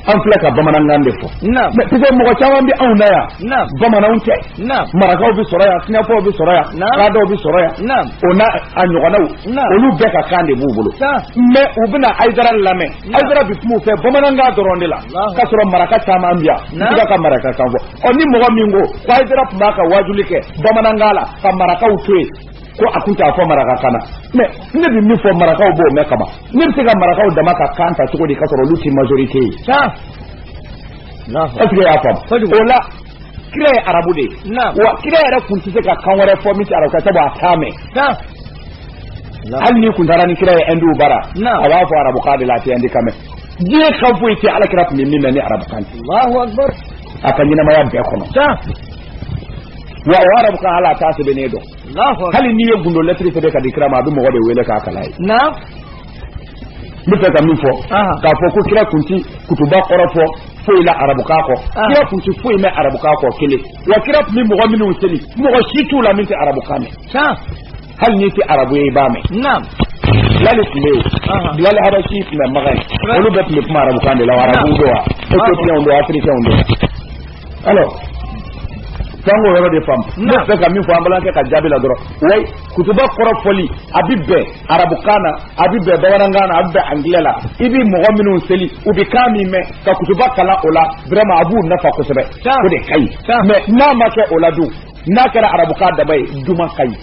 A: an filɛ ka bamanankan de fɔ piseke mɔgɔ caman bɛ anw na yan bamananw tɛ marakaw bɛ sɔrɔ yan sinɛfɔw bɛ sɔrɔ yan kadɔw bɛ sɔrɔ yan o n'a ɲɔgɔnnaw olu bɛɛ ka kan de b'u bolo mɛ u bɛna ayidara lamɛn ayidara bɛ kuma u fɛ bamanankan dɔrɔn de la k'a sɔrɔ maraka caman bɛ yan n bɛ ka marakakan fɔ ɔ ni mɔgɔ min ko ko ayidara tun b'a ka waajuli kɛ bamanankan la ka marakaw to yen ko a tun t'a fɔ marakakan na mɛ ne bɛ min fɔ marakaw b'o mɛn kaban ne bɛ se ka marakaw dama ka kan ta cogo di k'a sɔrɔ olu tɛ majorite ye ɛseke i y'a faamu o la kira ye arabu de ye wa kira yɛrɛ tun tɛ se ka kan wɛrɛ fɔ min tɛ arabukan sabu a t'a mɛn hali n'i kun taara ni kira ye ɛndiw bara a b'a fɔ arabukan de la a tɛ ɛndikan mɛn diɲɛ kan foyi tɛ ala kira tun bɛ min mɛn ni arabukan tɛ a ka ɲɛnamaya bɛɛ kɔnɔ wa o arabukan la a t'a sɛbɛnni dɔn hali n'i ye gundo lɛtiri sɛbɛn k'a di kira ma a bi mɔgɔ de wele k'a kalan a ɲɛ na n bɛ ka min fɔ k'a fɔ ko kira kun ti kutuba kɔrɔ fɔ foyi la arabukan kɔ kira kun ti foyi mɛn arabukan kɔ kelen wa kira tun bɛ mɔgɔ minnu seli mɔgɔ si t'u la min tɛ arabukan mɛn hali n'i tɛ arabu ye i b'a mɛn bilali tun bɛ yen bilali habasi tun bɛ makan yen olu bɛɛ tun bɛ kuma arabukan de la wa arabuw don wa etiopiyɛnw don wa afirikɛnw don wa alors sa an k'o yɔrɔ de faamu ne bɛ ka min fɔ an balimakɛ ka jaabi la dɔrɔn wayi kutuba kɔrɔfɔli a bi bɛn arabukan na a bi bɛn bamanankan na a bi bɛn angilɛ la i bi mɔgɔ minnu seli u bi kan min mɛn ka kutuba kalan o la vraiment a b'u nafa kosɛbɛ o de ka ɲi mais n'a ma kɛ o la dun n'a kɛra arabukan dama ye juma ka ɲi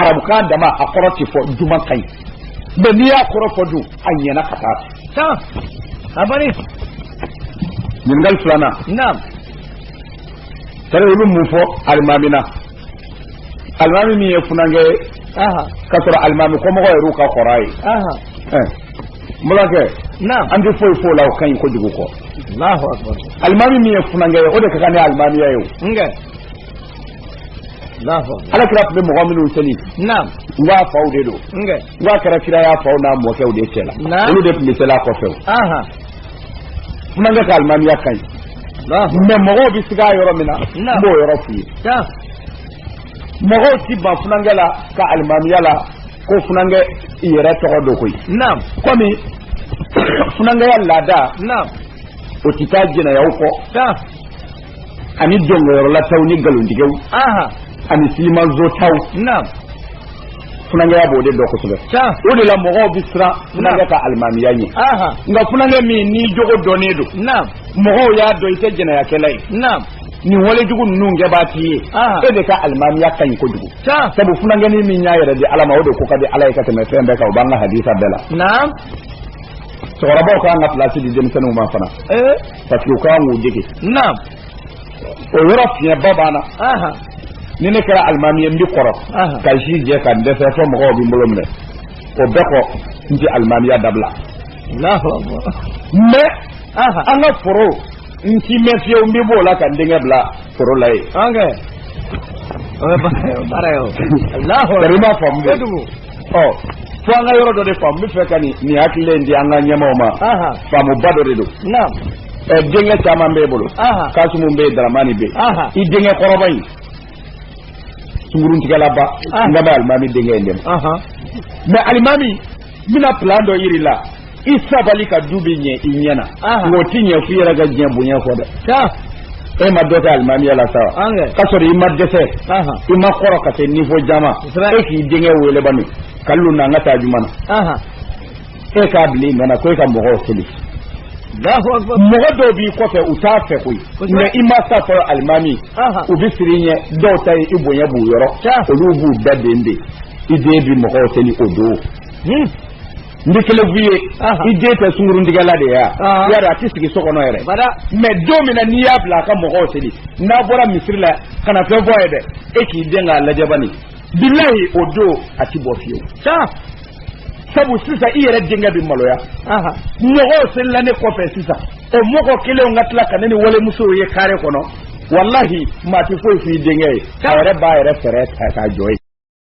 A: arabukan dama a kɔrɔ tɛ fɔ juma ka ɲi mais n'i y'a kɔrɔ fɔ dun a ɲɛna ka t'a kan a banna ɲininkali filanan naam tari olu mun fɔ alimami na alimami min ye funankɛ ye aha k'a sɔrɔ alimami kɔmɔgɔ yɛrɛ ka kɔrɔ a ye aha ɛɛ n balimakɛ naam an tɛ foyi f'o la o ka ɲi kojugu kɔ allahu akbar alimami min ye funankɛ ye o de ka kan ni alimamiya ye o n kɛ ala kira tun bɛ mɔgɔ minnu seli wa a faw de don wa a kɛra kira y'a faw n'a mɔkɛw de cɛ la olu de tun bɛ seli a kɔfɛ funankɛ ka alimamiya ka ɲi mɛ mɔgɔw bɛ siga yɔrɔ min na n b'o yɔrɔ f'i ye mɔgɔw ti ban funankɛ la ka alimamiya la ko funankɛ yɛrɛ tɔgɔ don koyi kɔmi funankɛya laada o tɛ taa jɛnɛyaw kɔ ani dɔnkɛyɔrɔlataw ni nkalontigɛw ani silimansotaw funankɛya b'o de dɔ kosɛbɛ o de la mɔgɔw bɛ siran funankɛ ka alimamiya ɲɛ nka funankɛ min n'i jogo dɔnnen don mɔgɔw y'a dɔn i tɛ jɛnɛyakɛla ye nin walejugu ninnu kɛbaa t'i ye e de ka alimamiya ka ɲi kojugu sabu funankɛnin min y'a yɛrɛ di ala ma o de ko ka di ala ye ka tɛmɛ fɛn bɛɛ kan o b'an ka hadisa bɛɛ la cɛkɔrɔbaw kan ka pilasi di denmisɛnninw ma fana parce que u kan k'u dege naam o yɔrɔ fiɲɛba b'an na aha ni ne kɛra alimami ye n bi kɔrɔ Aha. ka si jɛ ka n dɛsɛ fo mɔgɔw bɛ n bolo minɛ o bɛɛ kɔ n tɛ alimamiya dabila Allahu akbar mɛ aha an ka foro n ti mɛɛn fiyewu n bɛ b'o la ka n denkɛ bila foro la yen ok o ye baara ye o ye baara ye o Allahu akbar sari i m'a faamu dɛ. kojugu ɔ fo an ka yɔrɔ dɔ de faamu n bɛ fɛ ka nin nin hakilila in di an ka ɲɛmaaw ma Aha. faamuba dɔ de don naam ɛ denkɛ caman b'e bolo Aha. kasumu bɛ yen daramani bɛ Aha. yen i denkɛ kɔrɔba in sunguruntigɛlaba Aha. nka n bɛ alimami denkɛ in dɛmɛ ahan mɛ alimami n bɛna pilan dɔ yir'i la i sabali ka du bɛ ɲɛ i ɲɛ na o tɛ ɲɛ f'i yɛrɛ ka diɲɛ bonya kɔ dɛ e ma dɔ kɛ alimamiya la sa k'a sɔrɔ i ma dɛsɛ i ma kɔrɔ ka se nivo jan ma e k'i denkɛ weele ba nin ka lu na an ka taa juma na e k'a bila i ɲɛ na ko e ka mɔgɔw seli mɔgɔ dɔw b'i kɔfɛ u t'a fɛ koyi mɛ i ma sa fɔlɔ alimami u bɛ siran i ɲɛ dɔw ta ye i bonya b'u yɔrɔ olu b'u daden de i den bi mɔgɔw seli o don N bi kelen f'i ye i den bɛ sunguruntigɛ la de yan ya a tɛ sigi so kɔnɔ yɛrɛ mɛ don min na n'i y'a bila a ka mɔgɔw seli n'a bɔra misiri la kana na fɛn f'a ye dɛ e k'i den k'a lajɛ bani bilayi o don a tɛ bɔ fiyewu sabu sisan i yɛrɛ denkɛ bɛ maloya mɔgɔw selila ne kɔfɛ sisan o mɔgɔ kelenw ka tila ka ne ni walimuso ye kare kɔnɔ walahi maa tɛ foyi f'i denkɛ ye a yɛrɛ b'a yɛrɛ fɛɛrɛ ta k'a jɔ ye